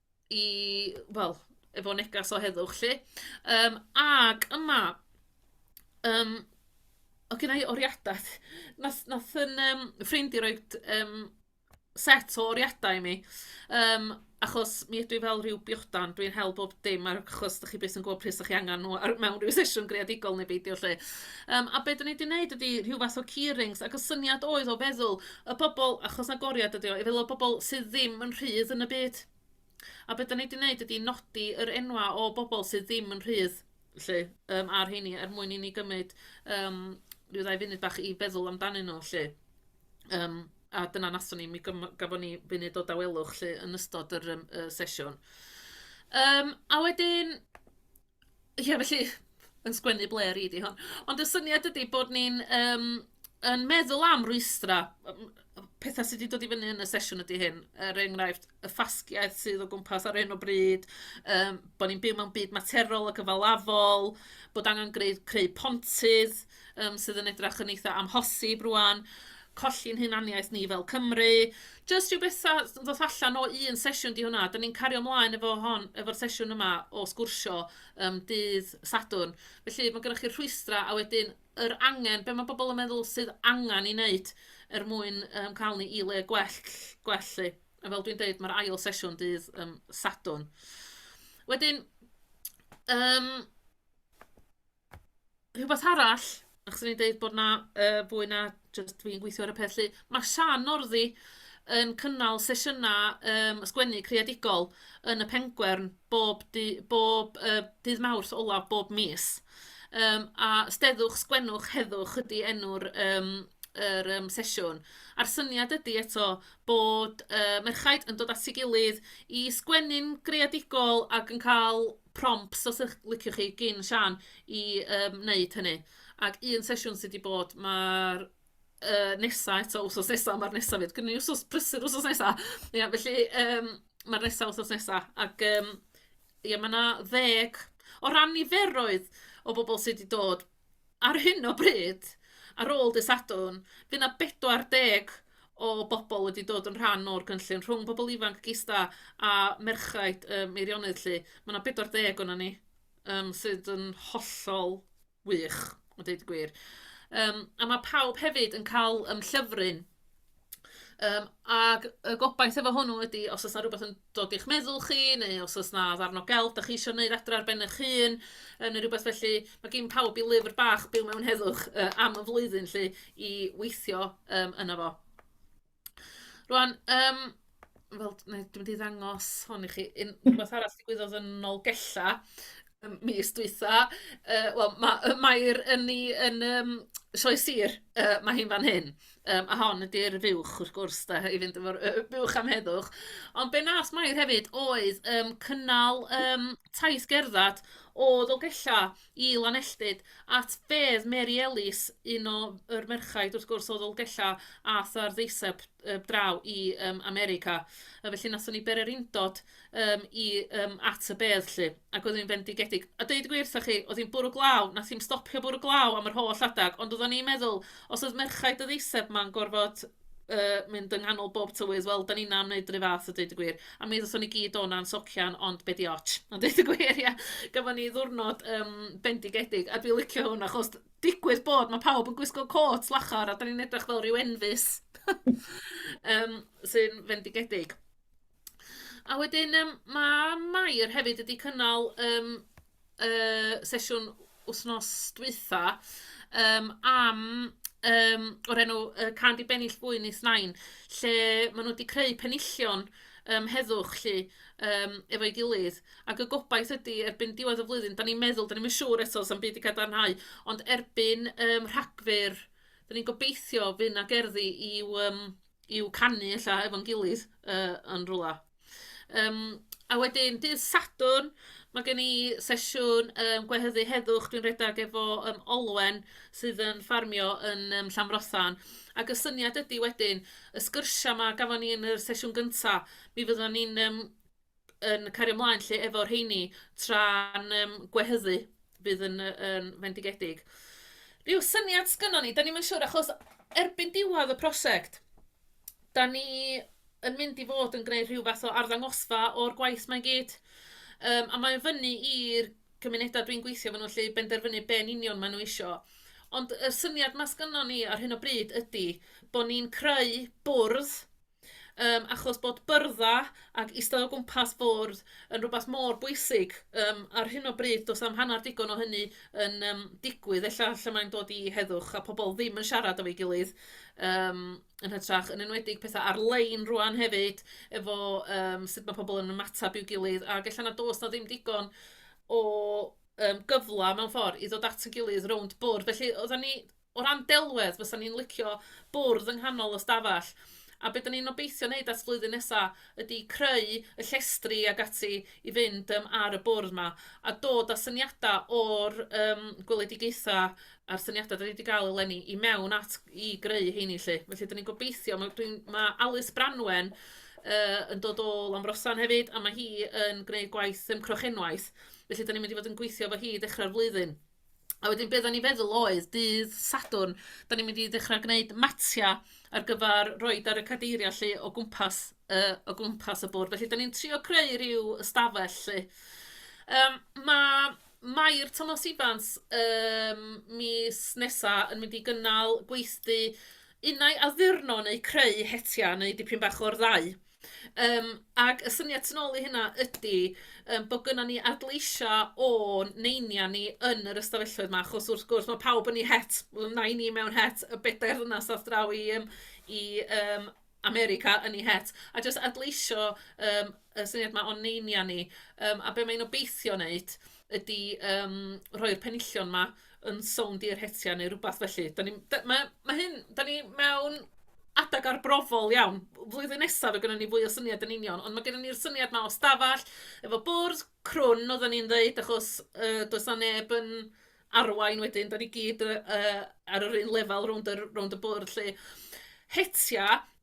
i wel efo neges o heddwch 'lly yym ac yma yym oedd gynna i oriadau wnaeth wnaeth un yym ffrind i roi yym set o oriadau i mi yym achos mi ydw i fel ryw biodan, dwi'n hel bob dim ar achos dach chi byth yn gwybod pryd 'sdach chi angen nhw ar mewn ryw sesiwn greadigol neu beidio 'lly yym a be dan ni 'di wneud ydy rhyw fath o key rings ac y syniad oedd o feddwl y bobl achos 'na goriad ydi o i feddwl y bobl sydd ddim yn rhydd yn y byd a be' 'dan ni 'di neud ydi nodi yr enwa' o bobl sydd ddim yn rhydd 'lly yym ar rheini er mwyn i ni gymryd yym ryw ddau funud bach i feddwl amdanyn nhw 'lly yym a dyna nathon ni mi gym- gafon ni funud o dawelwch 'lly yn ystod yr yym y sesiwn. Yym a wedyn Ie felly yn sgwennu ble ar i di hon. Ond y syniad ydy bod ni'n yym yn meddwl am rwystra yym yy petha sy 'di dod i fyny yn y sesiwn ydy hyn, er enghraifft y ffasgiaeth sydd o gwmpas ar hyn o bryd yym bod ni'n byw mewn byd materol a gyfalafol bod angen greu creu pontydd. um, sydd yn edrych yn eitha amhosib rwan, colli'n hunaniaeth ni fel Cymru. Just rhyw bethau ddoth allan o un sesiwn di hwnna. Dyna ni'n cario ymlaen efo hon, efo'r sesiwn yma o sgwrsio um, dydd Sadwrn. Felly mae gennych chi'r rhwystrau a wedyn yr angen, be mae bobl yn meddwl sydd angen i wneud er mwyn um, cael ni i le gwell, gwell lle. A fel dwi'n dweud, mae'r ail sesiwn dydd um, Sadwrn. Wedyn, um, Rhywbeth arall, achos o'n i'n deud bod 'na yy fwy na jyst fi'n gweithio ar y peth 'lly, ma' Sian Northy yn cynnal sesiynau yym sgwennu creadigol yn y Pengwern bob dy- bob yy dydd Mawrth ola' bob mis yym a 'Steddwch, Sgwennwch, Heddwch ydy enw'r yym yr yym sesiwn a'r syniad ydy eto bod yy merchaid yn dod at ei gilydd i sgwennu'n greadigol ac yn cael prompts os y'ch liciwch chi gin Siân i yym wneud hynny ac un sesiwn sy' 'di bod ma'r yy nesa eto wsos nesa ma'r nesa 'fyd gynno ni wsos prysur wsos nesa ia felly yym ma'r nesa wsos nesa ac yym ia ma' 'na ddeg o ran niferoedd o bobl sy' 'di dod Ar hyn o bryd, ar ôl dydd Sadwrn, fydd 'na 40 o bobl wedi dod yn rhan o'r gynllun, rhwng pobl ifanc gista a merchaid y Meirionnydd 'lly. Mae 'na 40 o'na ni, um, sydd yn hollol wych, a dweud y gwir. Um, a mae pawb hefyd yn cael um, llyfryn Yym, ac y gobaith efo hwnnw ydy os oes 'na rywbeth yn dod i'ch meddwl chi, neu os oes 'na ddarn o gelf dach chi isio wneud adre ar ben eich hun, yy neu rywbeth felly, ma' gin pawb i lyfr bach byw mewn heddwch yy am y flwyddyn 'lly i weithio yym yno fo. Rŵan yym... wel, dwi mynd i ddangos hwn i chi. Un... rhywbeth arall ddigwyddodd yn Nolgella ym mis dwytha. Yy, wel, ma' yy Mair yn ei yn yym Sioe Sir, yy mae hi'n fan hyn. Yym, a hon ydy'r fuwch wrth gwrs de, i fynd efo'r yy buwch am heddwch. Ond be wnaeth Mair hefyd oedd yym cynnal yym taith gerdded o Ddolgellau i Lanelltyd at fedd Mary Ellis, un o yr merchaid wrth gwrs o Ddolgellau aeth ar ddeiseb yy draw i yym America a felly wnaethon ni bererindod yym i yym at y bedd 'lly ac oedd hi'n fendigedig. A deud y gwir 'tha chi, oedd hi'n bwrw glaw, wnaeth hi'm stopio bwrw glaw am yr holl adeg, ond oeddan ni'n meddwl, os oedd merchaid y ddeiseb 'ma'n gorfod yy mynd yng nghanol bob tywydd, wel, 'dan ninnau'n wneud yr un fath a deud y gwir. A mi ddothon ni gyd o 'na'n socian, ond be' 'di ots? A deud y gwir ia, gafon ni ddiwrnod yym bendigedig a dwi'n licio hwn achos digwydd bod ma' pawb yn gwisgo côt lachar a 'dan ni'n edrych fel ryw enfys yym sy'n fendigedig. A wedyn yym ma' Mair hefyd wedi cynnal yym yy sesiwn wythnos dwytha yym am yym o'r enw yy Can't Be Bennill Fwyn Is Nain lle maen nhw wedi creu penillion yym heddwch 'lly. yym efo'i gilydd ac y gobaith ydy erbyn diwedd y flwyddyn, dan ni'n meddwl, dan ni'm yn siŵr eto, sa'm byd 'di cadarnhau, ond erbyn yym Rhagfyr, dan ni'n gobeithio fydd 'na gerddi i'w yym i'w canu ella efo'n gilydd yy yn rywle. Yym a wedyn dydd Sadwrn, mae gen i sesiwn yym gwehyddu heddwch dwi'n redeg efo yym Olwen sydd yn ffarmio yn yym Llanfrothan ac y syniad ydy wedyn y sgyrsiau 'ma gafon ni yn y sesiwn gynta, Mi fyddwn ni'n yym yn cario ymlaen 'lly efo rheini tra'n yym gwehyddu fydd yn yy yn fendigedig. Ryw syniad sgynnon ni, 'dan ni'm yn siŵr achos erbyn diwedd y prosiect, 'dan ni yn mynd i fod yn gwneud rhyw fath o arddangosfa o'r gwaith 'ma i gyd. Yym a mae'n fyny i'r cymunedau dwi'n gweithio efo nhw 'lly benderfynu be yn union maen nhw isio. Ond y syniad 'ma sgynnon ni ar hyn o bryd ydy bod ni'n creu bwrdd Yym, achos bod byrddau ac eistedd o gwmpas fwrdd yn rhywbeth mor bwysig. Yym, ar hyn o bryd, does na'm hanner digon o hynny yn yym, digwydd. Ella lle mae'n dod i heddwch a pobl ddim yn siarad efo'i gilydd yym, yn hytrach, yn enwedig pethau ar-lein rŵan hefyd efo yym, sut mae pobl yn ymateb i'w gilydd. Ac ella nad oes 'na ddim digon o yym, gyfle mewn ffordd i ddod at ei gilydd rownd bwrdd. Felly, oedden ni... O ran delwedd, fysa ni'n licio bwrdd yng nghanol y stafell, a be 'da ni'n obeithio wneud ers flwyddyn nesa ydi creu y llestri ag ati i fynd yym ar y bwrdd 'ma, a dod â syniada o'r yym gweledigaetha a'r syniada 'da ni 'di ga'l eleni i mewn at i greu 'heini 'lly. Felly 'da ni'n gobeithio, ma' dwi'n ma' Alys Branwen yy yn dod o Llanfrossan hefyd a ma' hi yn gneud gwaith yym Crochenwaith, felly 'da ni'n mynd i fod yn gweithio efo hi i ddechrau'r flwyddyn. A wedyn be oedden ni'n feddwl oedd dydd Sadwrn, dan ni'n mynd i ddechrau gwneud matiau ar gyfer roid ar y cadeiriau 'lly o gwmpas yy o gwmpas y bwrdd. Felly dan ni'n trio creu ryw ystafell 'lly. Yym ma' Mair Tomos Ifans yym mis nesa yn mynd i gynnal gweithdy unai addurno neu creu hetiau neu dipyn bach o'r ddau. Yym ac y syniad tu nôl i hynna ydy yym bod gynnon ni adleisio o'n neiniau ni yn yr ystafelloedd 'ma, achos wrth gwrs ma' pawb yn eu het, wel nain ni mewn het, y bedair ddynas aeth draw i yym i yym America yn eu het, a jyst adleisio yym y syniad 'ma o'n neiniau ni, yym a be mae'n obeithio wneud ydy yym rhoi'r penillion 'ma. yn sownd i'r hetiau neu rywbeth felly. Da ni, da, mae, mae hyn, da ni mewn adeg arbrofol iawn. Flwyddyn nesaf o gynnu ni fwy o syniad yn union, ond mae gennym ni'r syniad mae o stafell, efo bwrdd crwn, oedden ni'n dweud, achos uh, does na neb yn arwain wedyn, da ni gyd uh, ar yr un lefel rownd y, rownd y bwrdd lle. Hetia,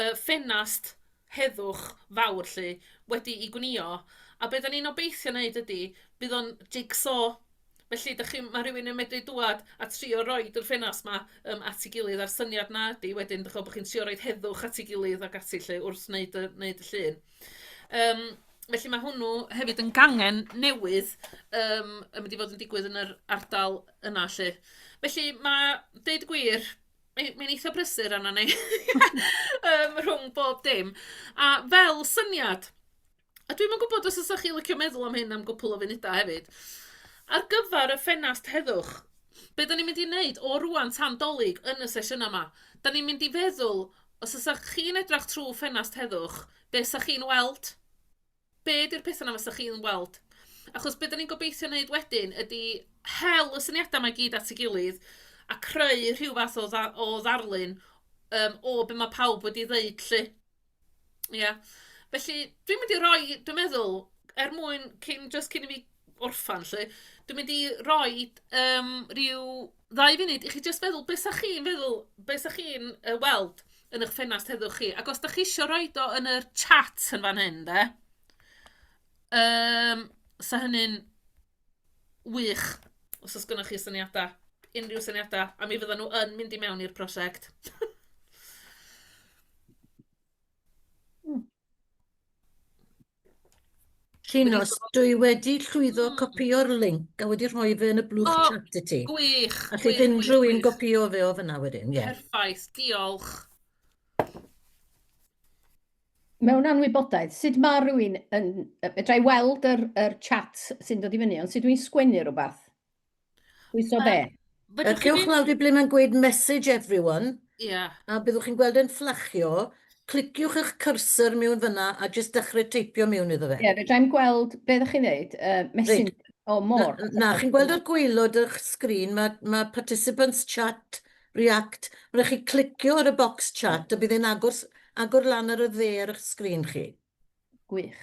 y ffenast heddwch fawr 'lly wedi i gwnïo a be' 'dan ni'n obeithio wneud ydy bydd o'n jig-so felly dych chi'n... ma' rhywun yn medru dŵad a trio roid yr ffenast 'ma yym at ei gilydd a'r syniad 'na ydy wedyn dych chi'n gwybod bod chi'n trio roid heddwch at ei gilydd ac ati 'lly wrth wneud y wneud y llun yym felly ma' hwnnw hefyd yn gangen newydd yym yn mynd i fod yn digwydd yn yr ardal yna 'lly felly ma' deud y gwir Mae'n mae eitha brysur arno ni um, rhwng bob dim. A fel syniad, a dwi'n yn gwybod os ydych chi licio meddwl am hyn am gwpl o funudau hefyd, ar gyfer y ffenast heddwch, be da ni'n mynd i wneud o rwan tan dolyg yn y sesiynau yma? Da ni'n mynd i feddwl, os ydych chi'n edrych trwy ffenast heddwch, be ydych chi'n weld? be ydy'r pethau 'na fysa chi'n weld? Achos be 'dan ni'n gobeithio wneud wedyn ydy hel y syniadau 'ma i gyd at ei gilydd a creu rhyw fath o dda- o ddarlun yym o be ma' pawb wedi ddeud 'lly. Ia. Felly dwi'n mynd i roi dwi'n meddwl er mwyn cyn jyst cyn i mi orffen 'lly dwi'n mynd i roid yym ryw ddau funud i chi jyst feddwl beth sa chi'n feddwl, beth sa chi'n uh, weld yn eich ffenast heddwch chi. Ac os da chi eisiau rhoi do yn yr chat yn fan hyn, de, um, sa hynny'n wych os oes gynnwch chi syniadau, unrhyw syniadau, a mi fydda nhw yn mynd i mewn i'r prosiect.
Llinos, dwi wedi llwyddo copïo'r link a wedi rhoi fe yn y blwch oh, chat i ti. Gwych! Alli fynd
unrhyw un
gopïo fe o fyna wedyn, ie. Yeah. Perffaith, diolch.
Mewn anwybodaeth, sut mae rhywun yn... Fedra i weld yr, yr chat sy'n dod i fyny, ond sut dwi'n sgwennu rhywbeth? Pwyso be? Yr cewch lawr
di ble mae'n gweud message everyone. Ia. A byddwch
chi'n gweld e'n
fflachio, cliciwch eich cursor miwn fyna a jyst dechrau teipio miwn iddo fe. Ie, fedra i'm gweld be
ddech chi'n ddeud, yy message Reit. o more. Na, na, chi'n gweld ar
gwaelod ych sgrin, mae, mae participants chat, react, ma' raid chi clicio ar y bocs chat a bydd e'n agor s- agor lan ar y dde ar ych sgrin chi. Gwych.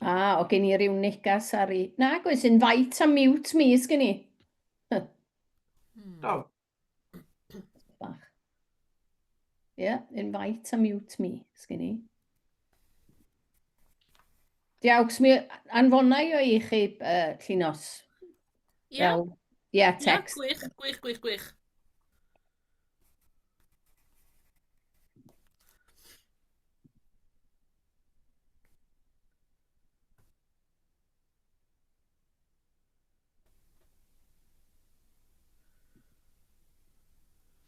Ah,
o gen i ryw negas ar i... Nag oes, invite a mute mi, sgyn i. Do. Bach. Ie, yeah, invite a mute mi, sgyn i. Diawcs, mi anfonau o i chi uh, llinos. Ie.
Yeah. Ie, yeah,
text. Ie, yeah, gwych, gwych, gwych, gwych.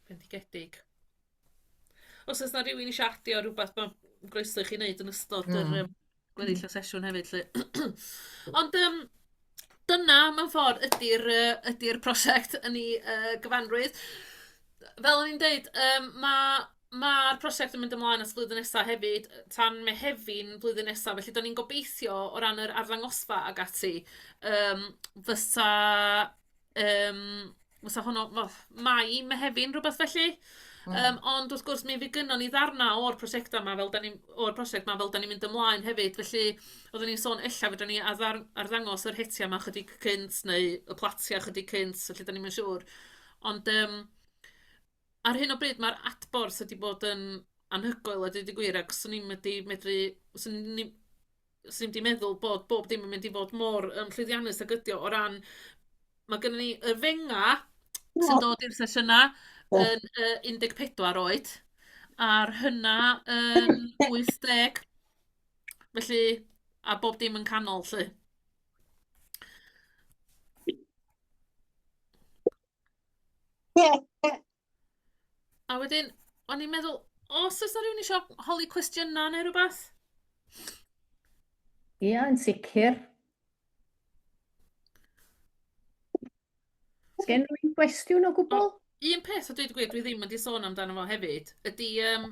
Bendigedig. Os o's 'na rywun isio adio rwbath ma' groeso i chi neud yn ystod yr yym gweddill y sesiwn hefyd 'lly. Ond yym dyna mewn ffordd ydy'r yy ydy'r prosiect yn ei yy gyfanrwydd. Fel o'n i'n deud, yym ma' ma'r prosiect yn mynd ymlaen at flwyddyn nesa hefyd, tan Mehefin flwyddyn nesa, felly 'dan ni'n gobeithio o ran yr arddangosfa ac ati yym fysa Yym, fysa hwnnw, wel, Mai, Mehefin, rhywbeth felly. Mm. Um, ond wrth gwrs, mi fi gynnon ni ddarnau o'r prosiectau yma, fel da ni, o'r prosiect yma, fel da ni'n mynd ymlaen hefyd. Felly, oeddwn ni'n sôn, ella fydden ni addar, arddangos yr hetiau yma chydig cynt, neu y platiau chydig cynt, felly da ni'n siŵr. Ond um, ar hyn o bryd, mae'r adborth wedi bod yn anhygoel, a dweud y gwir, ac swn i'n medru, medru swn ni, 'swn i'm 'di meddwl bod bob dim yn mynd i fod mor yym llwyddiannus ag ydi o o ran ma' gynnon ni yr fenga sy'n dod i'r sesiyna yn yy un deg pedwar oed a'r hynna yn wyth deg felly a bob dim yn canol 'lly. A wedyn, o'n i'n meddwl, os oes 'na rhywun eisiau holi cwestiynau neu rhywbeth? Ia,
yeah, yn sicr. Sgen rwy'n gwestiwn o gwbl? Un peth o dweud y
gwir, dwi ddim wedi sôn amdano fo hefyd, ydy um,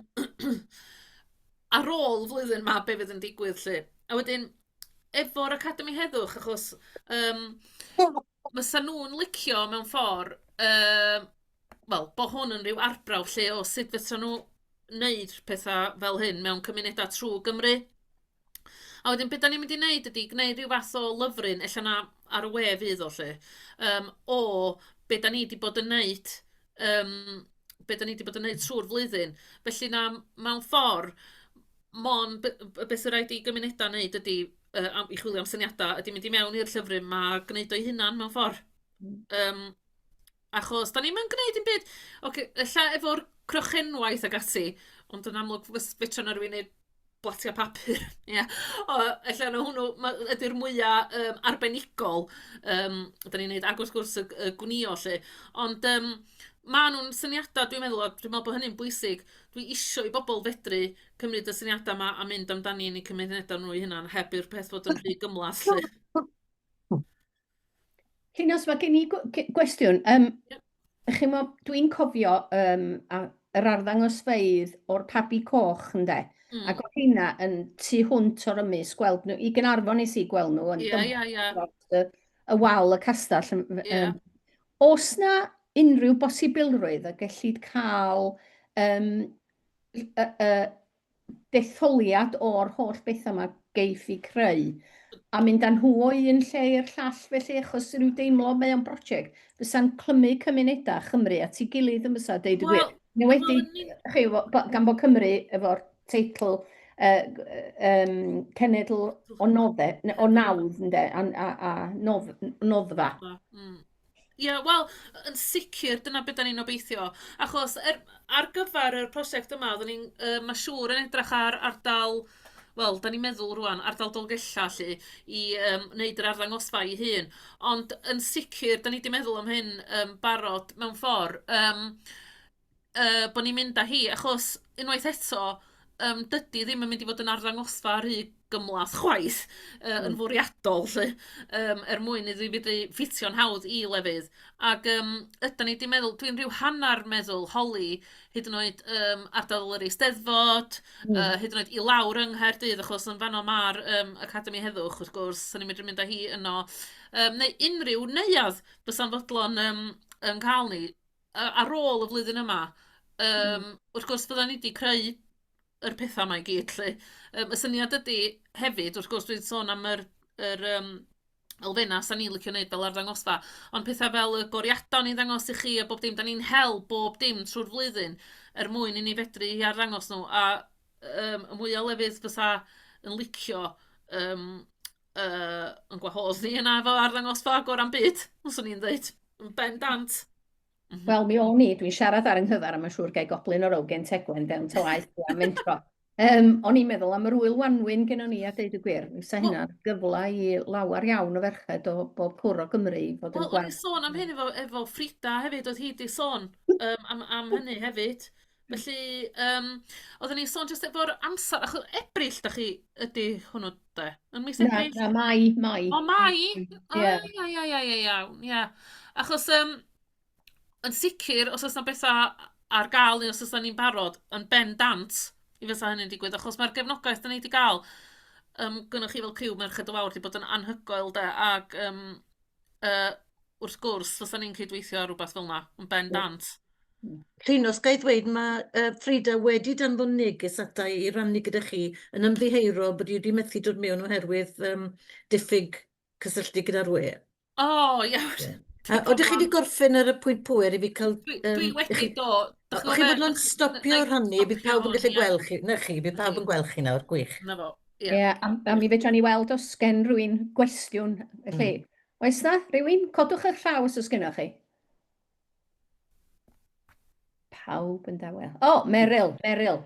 ar ôl flwyddyn ma be fydd yn digwydd lle. A wedyn, efo'r Academi Heddwch, achos um, Fysa nhw'n licio mewn ffor', yym, wel, bo' hwn yn ryw arbrawf lle o sut fysa nhw wneud petha fel hyn mewn cymunedau trwg Gymru. A wedyn be' 'dan ni'n mynd i wneud ydy gwneud ryw fath o lyfryn, ella na ar y we fydd o 'lly, yym, o be' 'dan ni 'di bod yn wneud, yym, be' 'dan ni 'di bod yn wneud trwy'r flwyddyn. Felly na, mewn ffor', Mond b- b- be sy raid i gymunedau wneud ydy yy am- i chwilio am syniadau ydy mynd i mewn i'r llyfryn 'ma a gwneud o'i hunan mewn ffor'. Yym achos 'dan ni'm yn gwneud dim byd ocê ella efo'r crochenwaith ac ati ond yn amlwg fys- fedra 'na rywun wneud blatiau papur ia o ella 'na hwnnw ma' ydi'r mwya yym arbenigol yym 'dan ni'n wneud ac wrth gwrs y g- y gwnïo 'lly ond yym maen nhw'n syniadau dwi'n meddwl a dwi'n meddwl bod hynny'n bwysig. Dwi isio i bobl fedru cymryd y syniada 'ma a mynd amdani yn 'u cymuneda nhw 'u hunan heb i'r peth fod yn rhy gymhleth 'lly.
Llinos, mae gen i gwestiwn. Um, yep. Chimo, dwi'n cofio um, a, yr arddangosfeydd o'r pabi coch, ynde? Mm. Ac o hynna yn tu hwnt o'r ymys, gweld nhw, i gynarfon nes i gweld nhw yn yeah, yeah, yeah. y, y wal y castell. Yeah. Um, Oes 'na unrhyw bosibilrwydd y gellid cael um, y, y detholiad o'r holl bethau yma geiff i creu a mynd â nhw o un lle i'r llall felly achos rhyw deimlo mae o'n brosiect fysa'n clymu cymunedau Chymru at ei gilydd yn fysa deud y gwir. Well, Neu wedi, chi, gan bod Cymru efo'r teitl uh, um, cenedl o nodde, o nawdd, ynde, a, a, a nodd, noddfa. Ie, mm.
yeah, wel, yn sicr, dyna beth da ni'n obeithio. Achos er, ar gyfer y prosiect yma, oeddwn ni'n, uh, mae siŵr yn edrych ar ardal, wel, da ni'n meddwl rwan, ardal Dolgella lle, i um, wneud yr arddangosfa i hun. Ond yn sicr, da ni wedi meddwl am hyn um, barod mewn ffordd. Um, yy, bod ni'n mynd â hi, achos unwaith eto, yym, dydy ddim yn mynd i fod yn arddangosfa rhy gymlath chwaith, yy, yn hmm. fwriadol 'lly, yym, er mwyn iddi fedru ffitio'n hawdd i lefydd. Ac yym, ydan ni wedi meddwl, dwi'n rhyw hanner meddwl holi hyd yn oed yym, ardal yr Eisteddfod, mm. uh, hyd yn oed i lawr yng Nghaerdydd, achos yn fanno mae'r um, Academi Heddwch, wrth gwrs, so ni'n medru mynd â hi yno. Um, neu unrhyw neuadd bysa'n fodlon um, yn cael ni. a- ar ôl y flwyddyn yma, yym, wrth gwrs fyddan ni 'di creu yr petha 'ma i gyd 'lly. Yym, y syniad ydi hefyd, wrth gwrs, dwi'n sôn am yr yr yym elfennau 'sa ni'n licio wneud fel arddangosfa, ond petha fel y goriadau o'n i'n ddangos i chi a bob dim, 'dan ni'n hel bob dim trwy'r flwyddyn er mwyn i ni fedru arddangos nhw, a yym y mwya o lefydd fysa yn licio yym... yy, yn gwahodd ni yna efo arddangosfa agor am byd, os o'n i'n dweud, yn bendant. Mm -hmm. Wel, mi
o'n i, dwi'n siarad ar yng nghyfer, a mae'n siŵr gael goblyn o'r awgen tegwen fewn to aeth i am mentro. Um, o'n i'n meddwl am yr wyl wanwyn gennym ni a deud y gwir. Fysa hynna gyfle i lawer iawn o ferched o bob cwr o Gymru i fod yn gweld. Wel, o'n i'n sôn am
hyn efo, efo Frida hefyd, oedd hi wedi sôn um, am, am hynny hefyd. Felly yym oedden ni'n sôn jyst efo'r amser achos Ebrill dach chi... ydy hwnnw de? Yn mis Ebrill? Na na Mai Mai.
O Mai!
Ia. Ia ia ia ia ia iawn ia. Achos yym yn sicr os oes 'na betha ar gael neu os oes 'na ni'n barod yn bendant mi fysa hynny'n digwydd achos ma'r gefnogaeth 'dan ni 'di gael yym gynnoch chi fel criw Merched y Wawr 'di bod yn anhygoel de ac yym... Yy, wrth gwrs, fysa ni'n cydweithio ar rywbeth fel 'na, yn bendant. Llinos,
ga i ddweud, mae uh, Frida wedi danfon neges ata i i rannu gyda chi yn ymddiheuro bod i wedi methu dod mewn oherwydd um, diffyg cysylltu gyda'r we.
O,
oh, iawn. Yeah. A oeddech chi wedi gorffen ar y pwynt pwer i fi cael... Dwi, um, dwi wedi chi,
do. O'ch chi fod yn
stopio rhannu, bydd pawb yn gallu gweld chi. Na chi, bydd pawb yn gweld chi nawr, gwych. Na fo. Ie,
yeah, a, a mi
fedra
ni weld
os gen rwy'n gwestiwn, felly, mm. oes na rhywun? Codwch eich llaw os oes gennych chi. Pawb yn dawel. O, oh, Meryl, Meryl.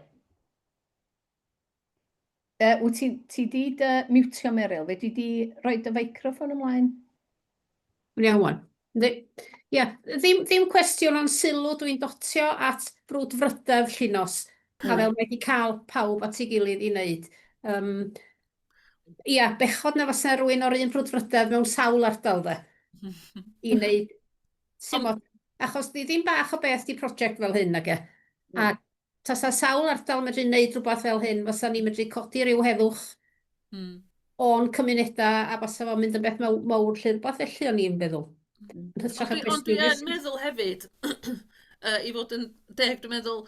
Uh, wyt ti, ti di dy mutio, Meryl? Fe di di roi dy feicrofon ymlaen?
Iawn. Ia, ddim, ddim cwestiwn ond sylw dwi'n dotio at frwdfrydedd Llinos, a fel mae 'di cael pawb at ei gilydd i wneud. Yym, ia, bechod na fase rhywun o'r un frwdfrydedd mewn sawl ardal de, i wneud, timod, achos ddim bach o beth 'di project fel hyn nage? Tasa sawl ardal yn medru neud rhywbeth fel hyn, fasa ni'n medru codi ryw heddwch o'n cymunedau a fasa fo'n mynd yn beth mawr 'lly, rhywbeth felly o'n i'n feddwl. Ond
dwi yn meddwl hefyd, i fod yn deg, dwi'n meddwl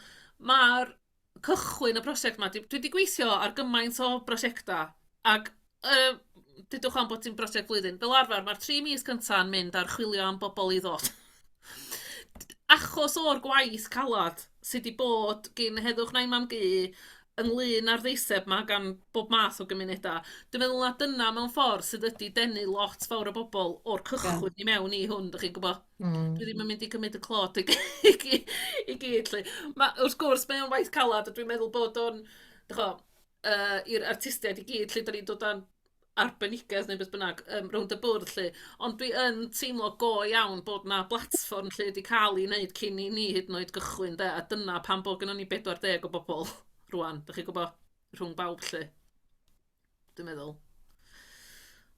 ma'r cychwyn y prosiect 'ma, dwi 'di gweithio ar gymaint o brosiectau ac yy dudwch am bod ti'n brosiect flwyddyn, fel arfer mae'r tri mis cyntaf yn mynd ar chwilio am bobl i ddod. Achos o'r gwaith calad sydd wedi bod gin Heddwch Nain Mam Gu ynglyn â'r ddeiseb ma gan bob math o gymunedau, dwi'n meddwl na dyna mewn ffordd sydd wedi denu lot fawr o bobl o'r cychwyn i mewn i hwn, dach chi'n gwybod? Mm. Dwi ddim yn mynd i gymryd y clod i, i, i, i gyd, lle. Ma, wrth gwrs, mae'n waith calad, a dwi'n meddwl bod o'n, dych yy i'r artistiaid i gyd 'lly, dan ni'n dod â'n arbenigedd neu beth bynnag yym rownd y bwrdd 'lly, ond dwi yn teimlo go iawn bod 'na blatfform lle 'di cael ei wneud cyn i ni hyd yn oed gychwyn de, a dyna pam bod gynnon ni 40 o bobl rŵan, dach chi'n gwybod, rhwng bawb 'lly, dwi'n meddwl.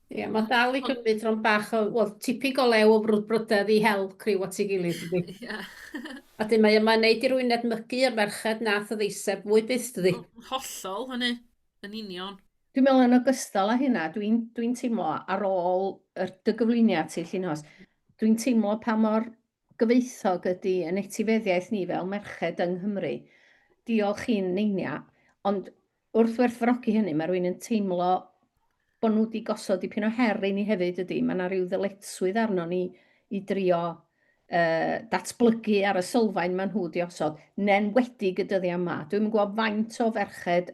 Ie, yeah, mae'n dal i gymryd tron bach o, wel, tipyn go lew o frwdfrydedd i hel criw at ei gilydd, dydy. Ie. A dyn mae yma'n neud i rwy'n edmygu y merched nath y ddeiseb fwy byth, dydy. Wel, hollol, hynny,
yn union. Dwi'n meddwl yn ogystal
â hynna, dwi'n dwi teimlo ar ôl yr, dy gyflwyniad ti, Llinos, dwi'n teimlo pa mor gyfoethog ydy yn etifeddiaeth ni fel merched yng Nghymru. Diolch i'n Neinia. Ond wrth werthfawrogi hynny, mae rwy'n yn teimlo bod nhw wedi gosod dipyn o her i ni hefyd ydy. Mae yna rhyw ddyletswydd arno ni i drio uh, datblygu ar y sylfaen maen nhw wedi osod, nen wedi y dyddiau yma. Dwi'n gwybod faint o ferched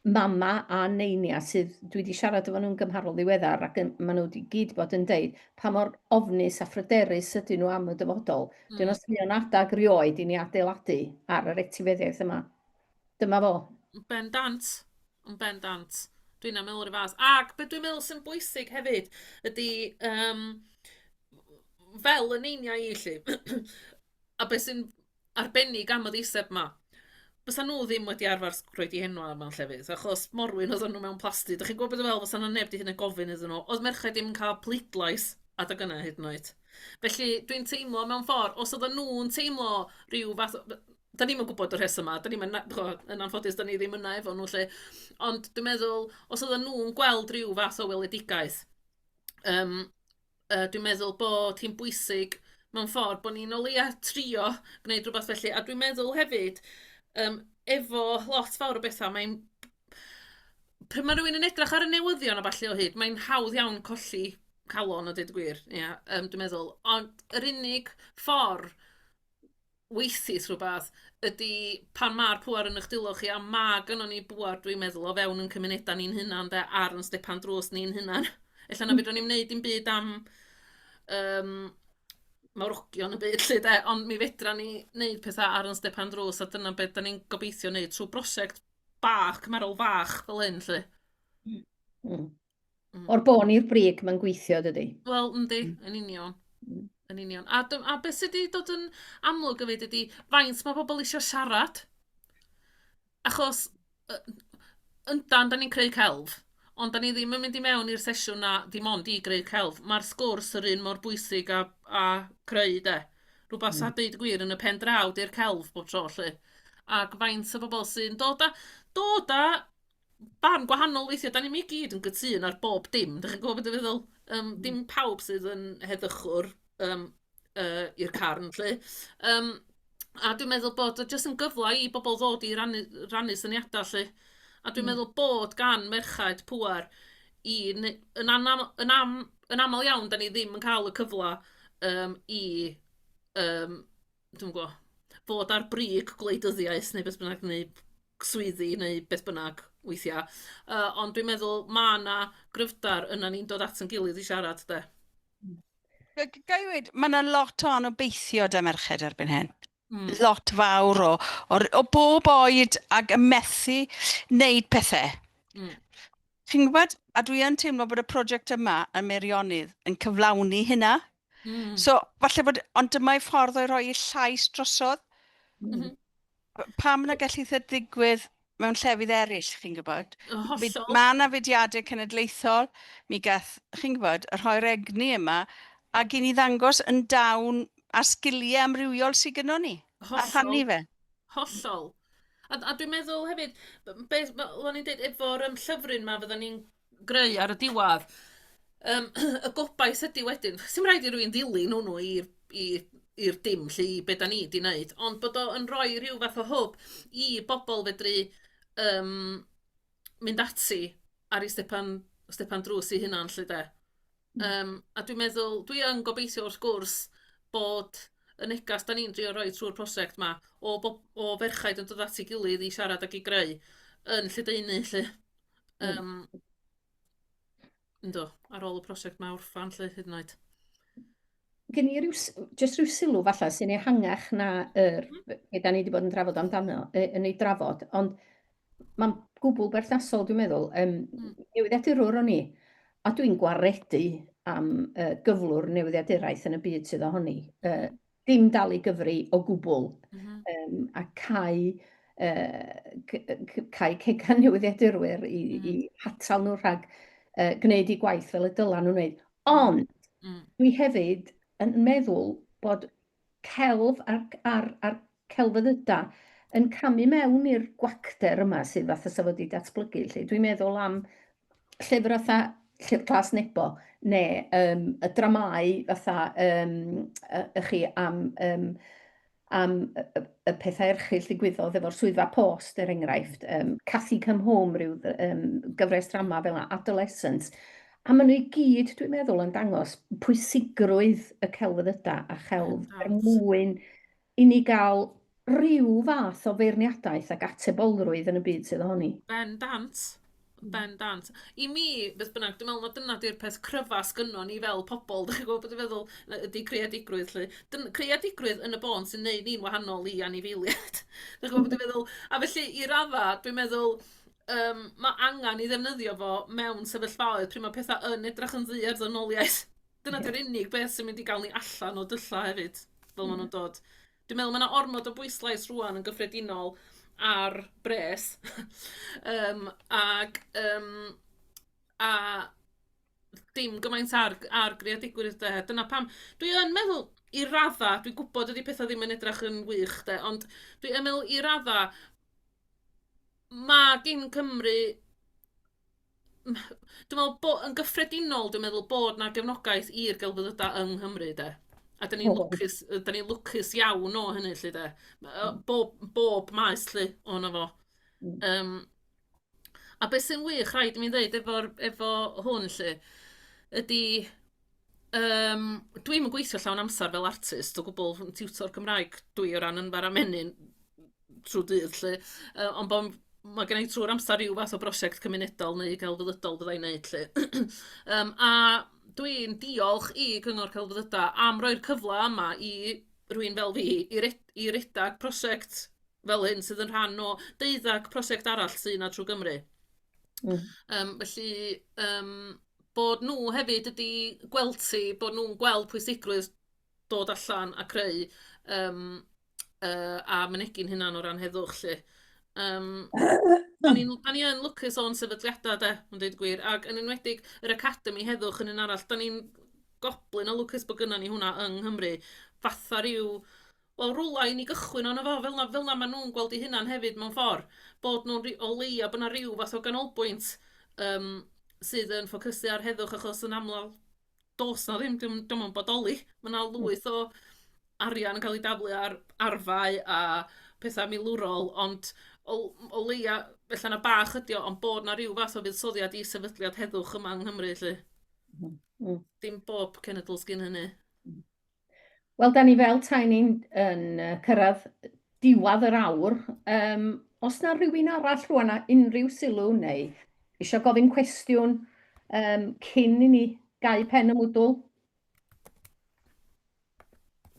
mama a neinia sydd, dwi wedi siarad efo nhw'n gymharol ddiweddar ac yn, maen nhw wedi gyd bod yn deud pa mor ofnus a phryderus ydyn nhw am y dyfodol. Mm. Dyn os mae adag rioed i ni adeiladu ar yr etifeddiaeth yma. Dyma fo. Yn ben dant.
Yn ben dant. Dwi'n am meddwl rhyw fath. Ac beth dwi'n meddwl sy'n bwysig hefyd ydy um, fel y neiniau i lle. a beth sy'n arbennig am y ddeiseb 'ma. Fysan nhw ddim wedi arfer s- rhoi dihenwa mewn llefydd achos morwyn oeddan nhw mewn plasty. Dach chi'n gwybod be' dwi feddwl? Fysa 'na neb 'di hyd yn oed gofyn iddyn nhw. Oedd merched ddim yn cael pleidlais adeg yna hyd yn oed. Felly dwi'n teimlo mewn ffordd, os oeddan nhw'n teimlo rhyw fath o... b- 'dan ni'm yn gwybod y rhesymau, 'dan ni'm yn na- chimod, yn anffodus 'dan ni ddim yna efo nhw 'lly. Ond dwi'n meddwl os oeddan nhw'n gweld ryw fath o weledigaeth yym Yy, dwi'n meddwl bod hi'n bwysig mewn ffordd bod ni'n o leia' trio gwneud rhywbeth felly, a dwi'n meddwl hefyd yym efo lot fawr o bethau mae'n... pryd mae rhywun yn edrych ar y newyddion a ballu o hyd mae'n hawdd iawn colli calon a deud y gwir, ia yym dwi'n meddwl, ond yr unig ffordd weithis rhywbeth ydy pan ma'r pŵer yn eich dwylo chi a ma' gynnon ni bŵer dwi'n meddwl o fewn ein cymunedau ni'n hunain de ar ein stepan drws ni'n hunain. Ella na fedrwn ni'm wneud dim byd am yym mawrogion y byd 'lly de, ond mi fedran ni wneud pethau ar ein stepan drws a dyna be' 'dan ni'n gobeithio wneud trwy brosiect bach, cymharol fach fel hyn 'lly.
Mm. O'r bon i'r brig, mae'n gweithio, dydy. Wel, yndi, mm. yn
union. Mm. Yn union. A, a beth sydd wedi dod yn amlwg o fyd ydy faint mae pobl eisiau siarad. Achos, yndan, da ni'n creu celf, ond da ni ddim yn mynd i mewn i'r sesiwn na dim ond i greu celf. Mae'r sgwrs yr un mor bwysig a, a creu, de. Rhywbeth mm. sy'n dweud gwir yn y pen draw di'r celf bob tro, lle. Ac faint o bobl sy'n dod a, dod a barn gwahanol weithia'. 'Dan ni'm i gyd yn gytûn ar bob dim, dach chi'n gwybod be dwi'n feddwl? Yym dim pawb sydd yn heddychwr yym yy i'r carn 'lly. Yym a dwi'n meddwl bod o jyst yn gyfle i bobl ddod i rannu rannu syniadau 'lly. A dwi'n meddwl bod gan merched pŵer i neu- yn anam- yn am- yn aml iawn 'dan ni ddim yn cael y cyfle yym i yym... dwi'm yn gw'o', fod ar brig gwleidyddiaeth neu beth bynnag neu swyddi neu beth bynnag weithia', yy ond dwi'n meddwl ma' 'na gryfder yna ni'n dod at 'yn gilydd i siarad de. Ga-
ga- ga i weud, mae yna lot o anobeithio 'da merched erbyn hyn. Mm. Lot
fawr o,
o, o bob oed ac yn methu wneud pethau.
Mm. Chi'n gwybod,
a dwi yn teimlo bod y prosiect yma yn Meirionydd yn cyflawni hynna, Mm. So,
falle bod,
ond dyma ei ffordd o'i roi ei llais drosodd. Mm.
Pam
na gallu eitha digwydd mewn llefydd eraill, chi'n gwybod? Mae yna
fudiadau
cenedlaethol, mi gath, chi'n gwybod, y rhoi'r egni yma, a gyn i ddangos yn dawn a sgiliau amrywiol sydd gyda ni. Hollol. A rhannu fe. Hollol.
A, a dwi'n meddwl hefyd, beth o'n i'n dweud efo'r um, llyfryn yma, fydden ni'n greu ar y diwadd. Yym y gobaith ydy wedyn, sy'n rhaid i rywun ddilyn hwnnw i'r i i'r dim lle i be da ni di wneud, ond bod o yn rhoi rhyw fath o hwb i bobl fedru um, mynd ati ar ei stepan, stepan drws i hunan lle de. Mm. Um, a dwi'n meddwl, dwi yn gobeithio wrth gwrs bod y negas da ni'n drio rhoi trwy'r prosiect yma o, o ferchaid yn dod at ei gilydd i siarad ac i greu yn lledaenu lle. Um, ynddo, ar ôl y prosiect mae orffan lle hyd yn oed. Gen
i ryw, just rhyw sylw falle sy'n ehangach na yr, mm. be da ni wedi bod yn drafod amdano, yn ei drafod, ond mae'n gwbl berthnasol, dwi'n meddwl. Um, mm. Newyddiadurwr o'n i, a dwi'n gwaredu am uh, gyflwr newyddiaduraeth yn y byd sydd ohoni. Uh, dim dal i gyfri o gwbl, um, a cael, uh, cael cegan newyddiadurwyr i, mm. i hatal nhw rhag uh, gwneud i gwaith fel y dylan nhw'n wneud. Ond, mm. dwi hefyd yn meddwl bod celf a'r, ar, ar celfyddyda yn camu mewn i'r gwacter yma sydd fath o safod i datblygu. Dwi'n meddwl am llyfr fatha Llyfr Glas Nebo, neu um, y dramau fatha um, y, y chi am, um, am y, y pethau erchill ddigwyddodd efo'r swyddfa post, er enghraifft, um, Cathy Come Home, rhyw um, gyfres drama fel yna, Adolescence. A maen nhw i gyd, dwi'n meddwl, yn dangos pwysigrwydd y celfyddydau a chelf er mwyn i ni gael rhyw fath o feirniadaeth ac atebolrwydd yn y byd sydd ohoni. Ben dant. Ben dant.
I mi, beth bynnag, dwi'n meddwl na dyna di'r peth cryfa sgynno ni fel pobl, dych chi'n gwybod beth dwi'n feddwl, ydy creadigrwydd lle. Dyn, creadigrwydd yn y bôn sy'n neud ni'n wahanol i anifeiliaid. dych chi'n gwybod beth dwi'n feddwl? A felly, i radda, dwi'n meddwl, um, mae angen i ddefnyddio fo mewn sefyllfaoedd pryd mae pethau yn edrych yn ddi ar ddynoliaeth Dyna 'di'r unig beth sy'n mynd i gael ni allan o dylla' hefyd, fel maen nhw'n dod. Dwi'n meddwl mae yna ormod o bwyslais rŵan yn gyffredinol ar bres yym ac yym a dim gymaint ar ar greadigrwydd de. Dyna pam dwi yn meddwl i raddau, dwi'n gwybod dydy pethau ddim yn edrych yn wych de, ond dwi yn meddwl i raddau ma' gin Cymru dwi'n meddwl bod... yn gyffredinol, dwi'n meddwl bod 'na gefnogaeth i'r gelfyddydau yng Nghymru de. A dan ni'n... oes. ...lwcus dan ni'n lwcus iawn o hynny 'lly de. Yy bob bob maes 'lly ohono fo. Mm. Yym a beth sy'n wych, rhaid i mi ddeud, efo'r efo hwn 'lly ydy yym dwi'm yn gweithio llawn amser fel artist o gwbl, tiwtor Cymraeg dw i o ran ynfa a menyn. trw dydd 'lly yy on' bo' m- ma' gennai trw'r amsar ryw fath o brosiect cymunedol neu gelfyddydol fyddai neud 'lly yym a dwi'n diolch i Cyngor Celfyddyda am roi'r cyfla yma i rywun fel fi i re- i redag prosiect fel hyn sydd yn rhan o deuddag prosiect arall sy 'na trw Gymru. Hmm. Yym felly yym bod nhw hefyd wedi gweld hi, bod nhw'n gweld pwysigrwydd dod allan a creu yym yy a mynegi'n hunan o ran heddwch 'lly. Yym dan ni'n dan ni yn lwcus o'n sefydliadau de, yn deud y gwir, ac yn enwedig yr Academi Heddwch yn un arall. Dan ni'n goblyn o lwcus bod gynnon ni hwnna yng Nghymru fatha ryw wel rywle i ni gychwyn arno fo fel 'na fel 'na maen nhw'n gweld eu hunain hefyd mewn ffordd, bod nhw'n ry- o leia' bod 'na ryw fath o ganolbwynt yym sydd yn ffocysu ar heddwch achos yn amlwg does 'na ddim, 'di o'm 'di o'm yn bodoli. Ma' 'na lwyth o arian yn cael ei daflu ar arfau a petha milwrol, ond o l- o leia ella na bach ydi o, ond bod 'na ryw fath o fuddsoddiad i sefydliad heddwch yma yng Nghymru 'lly. M-hm. Hmm. Dim bob cenedl sgyn hynny.
Wel, da ni fel tai ni'n yn cyrraedd diwad yr awr. Um, os na rhywun arall rwan a unrhyw sylw neu eisiau gofyn cwestiwn um, cyn i ni gau pen y mwdwl?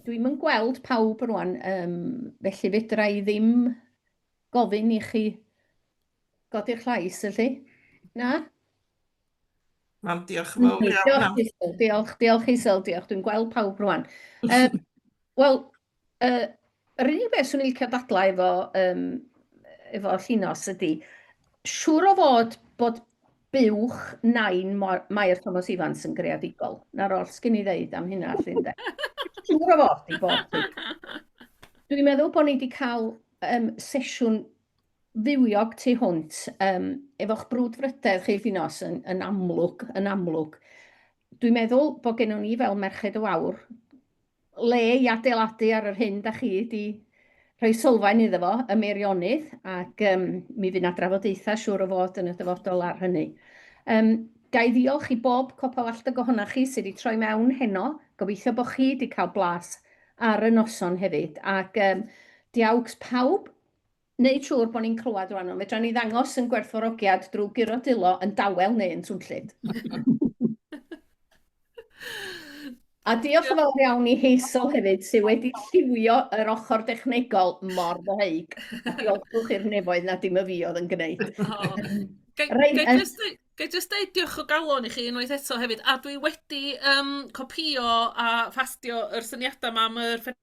Dwi'n yn gweld pawb rwan, um, felly fedra i ddim gofyn i chi godi'r llais, ylly? Na?
Mam, diolch yn fawr iawn. Diolch i Syl, diolch,
diolch
i
Syl, diolch. Dwi'n gweld pawb rwan. Um, Wel, uh, yr unig beth swn i'n licio dadlau efo, um, efo llinos ydy, siŵr o fod bod buwch nain Mair Thomas Evans yn greadigol. Na'r oll sgyn i ddeud am hynna, llun de. Siŵr o fod i bod. Dwi'n meddwl bod ni wedi cael um, sesiwn fywiog tu hwnt, um, efo'ch brwdfrydedd chi wrth nos yn, yn amlwg, yn amlwg. Dwi'n meddwl bod gennym ni fel merched o awr le i adeiladu ar yr hyn da chi wedi rhoi sylfaen iddo fo y Meirionydd ac um, mi fydd na drafodaethau siŵr o fod yn y dyfodol ar hynny. Um, Ga i ddiolch i bob copa walltog ohonoch chi sydd wedi troi mewn heno. Gobeithio bod chi wedi cael blas ar y noson hefyd. Ac um, diawgs pawb Wneud siŵr bod ni'n clywed rwan, ond fedra ni ddangos yn gwerthfawrogiad drwy guro dwylo yn dawel neu yn swnllyd. A diolch yn fawr iawn i Hazel hefyd, sydd wedi lliwio yr ochr dechnegol mor ddoheig. A diolchwch i'r nefoedd na dim y fi oedd yn gwneud.
Ga i jyst dweud diolch o galon i chi unwaith eto hefyd, a dwi wedi um, copio a ffastio yr syniadau yma am yr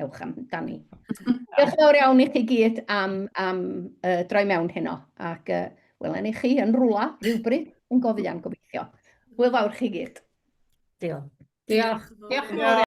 ewch amdani. Diolch fawr iawn i chi gyd am, am uh, droi mewn heno, ac uh, welen i chi yn rwla rhywbryd yn gofyn am gobeithio.
Hwyl
fawr chi gyd.
Diolch. Diolch.
Diolch. Diolch.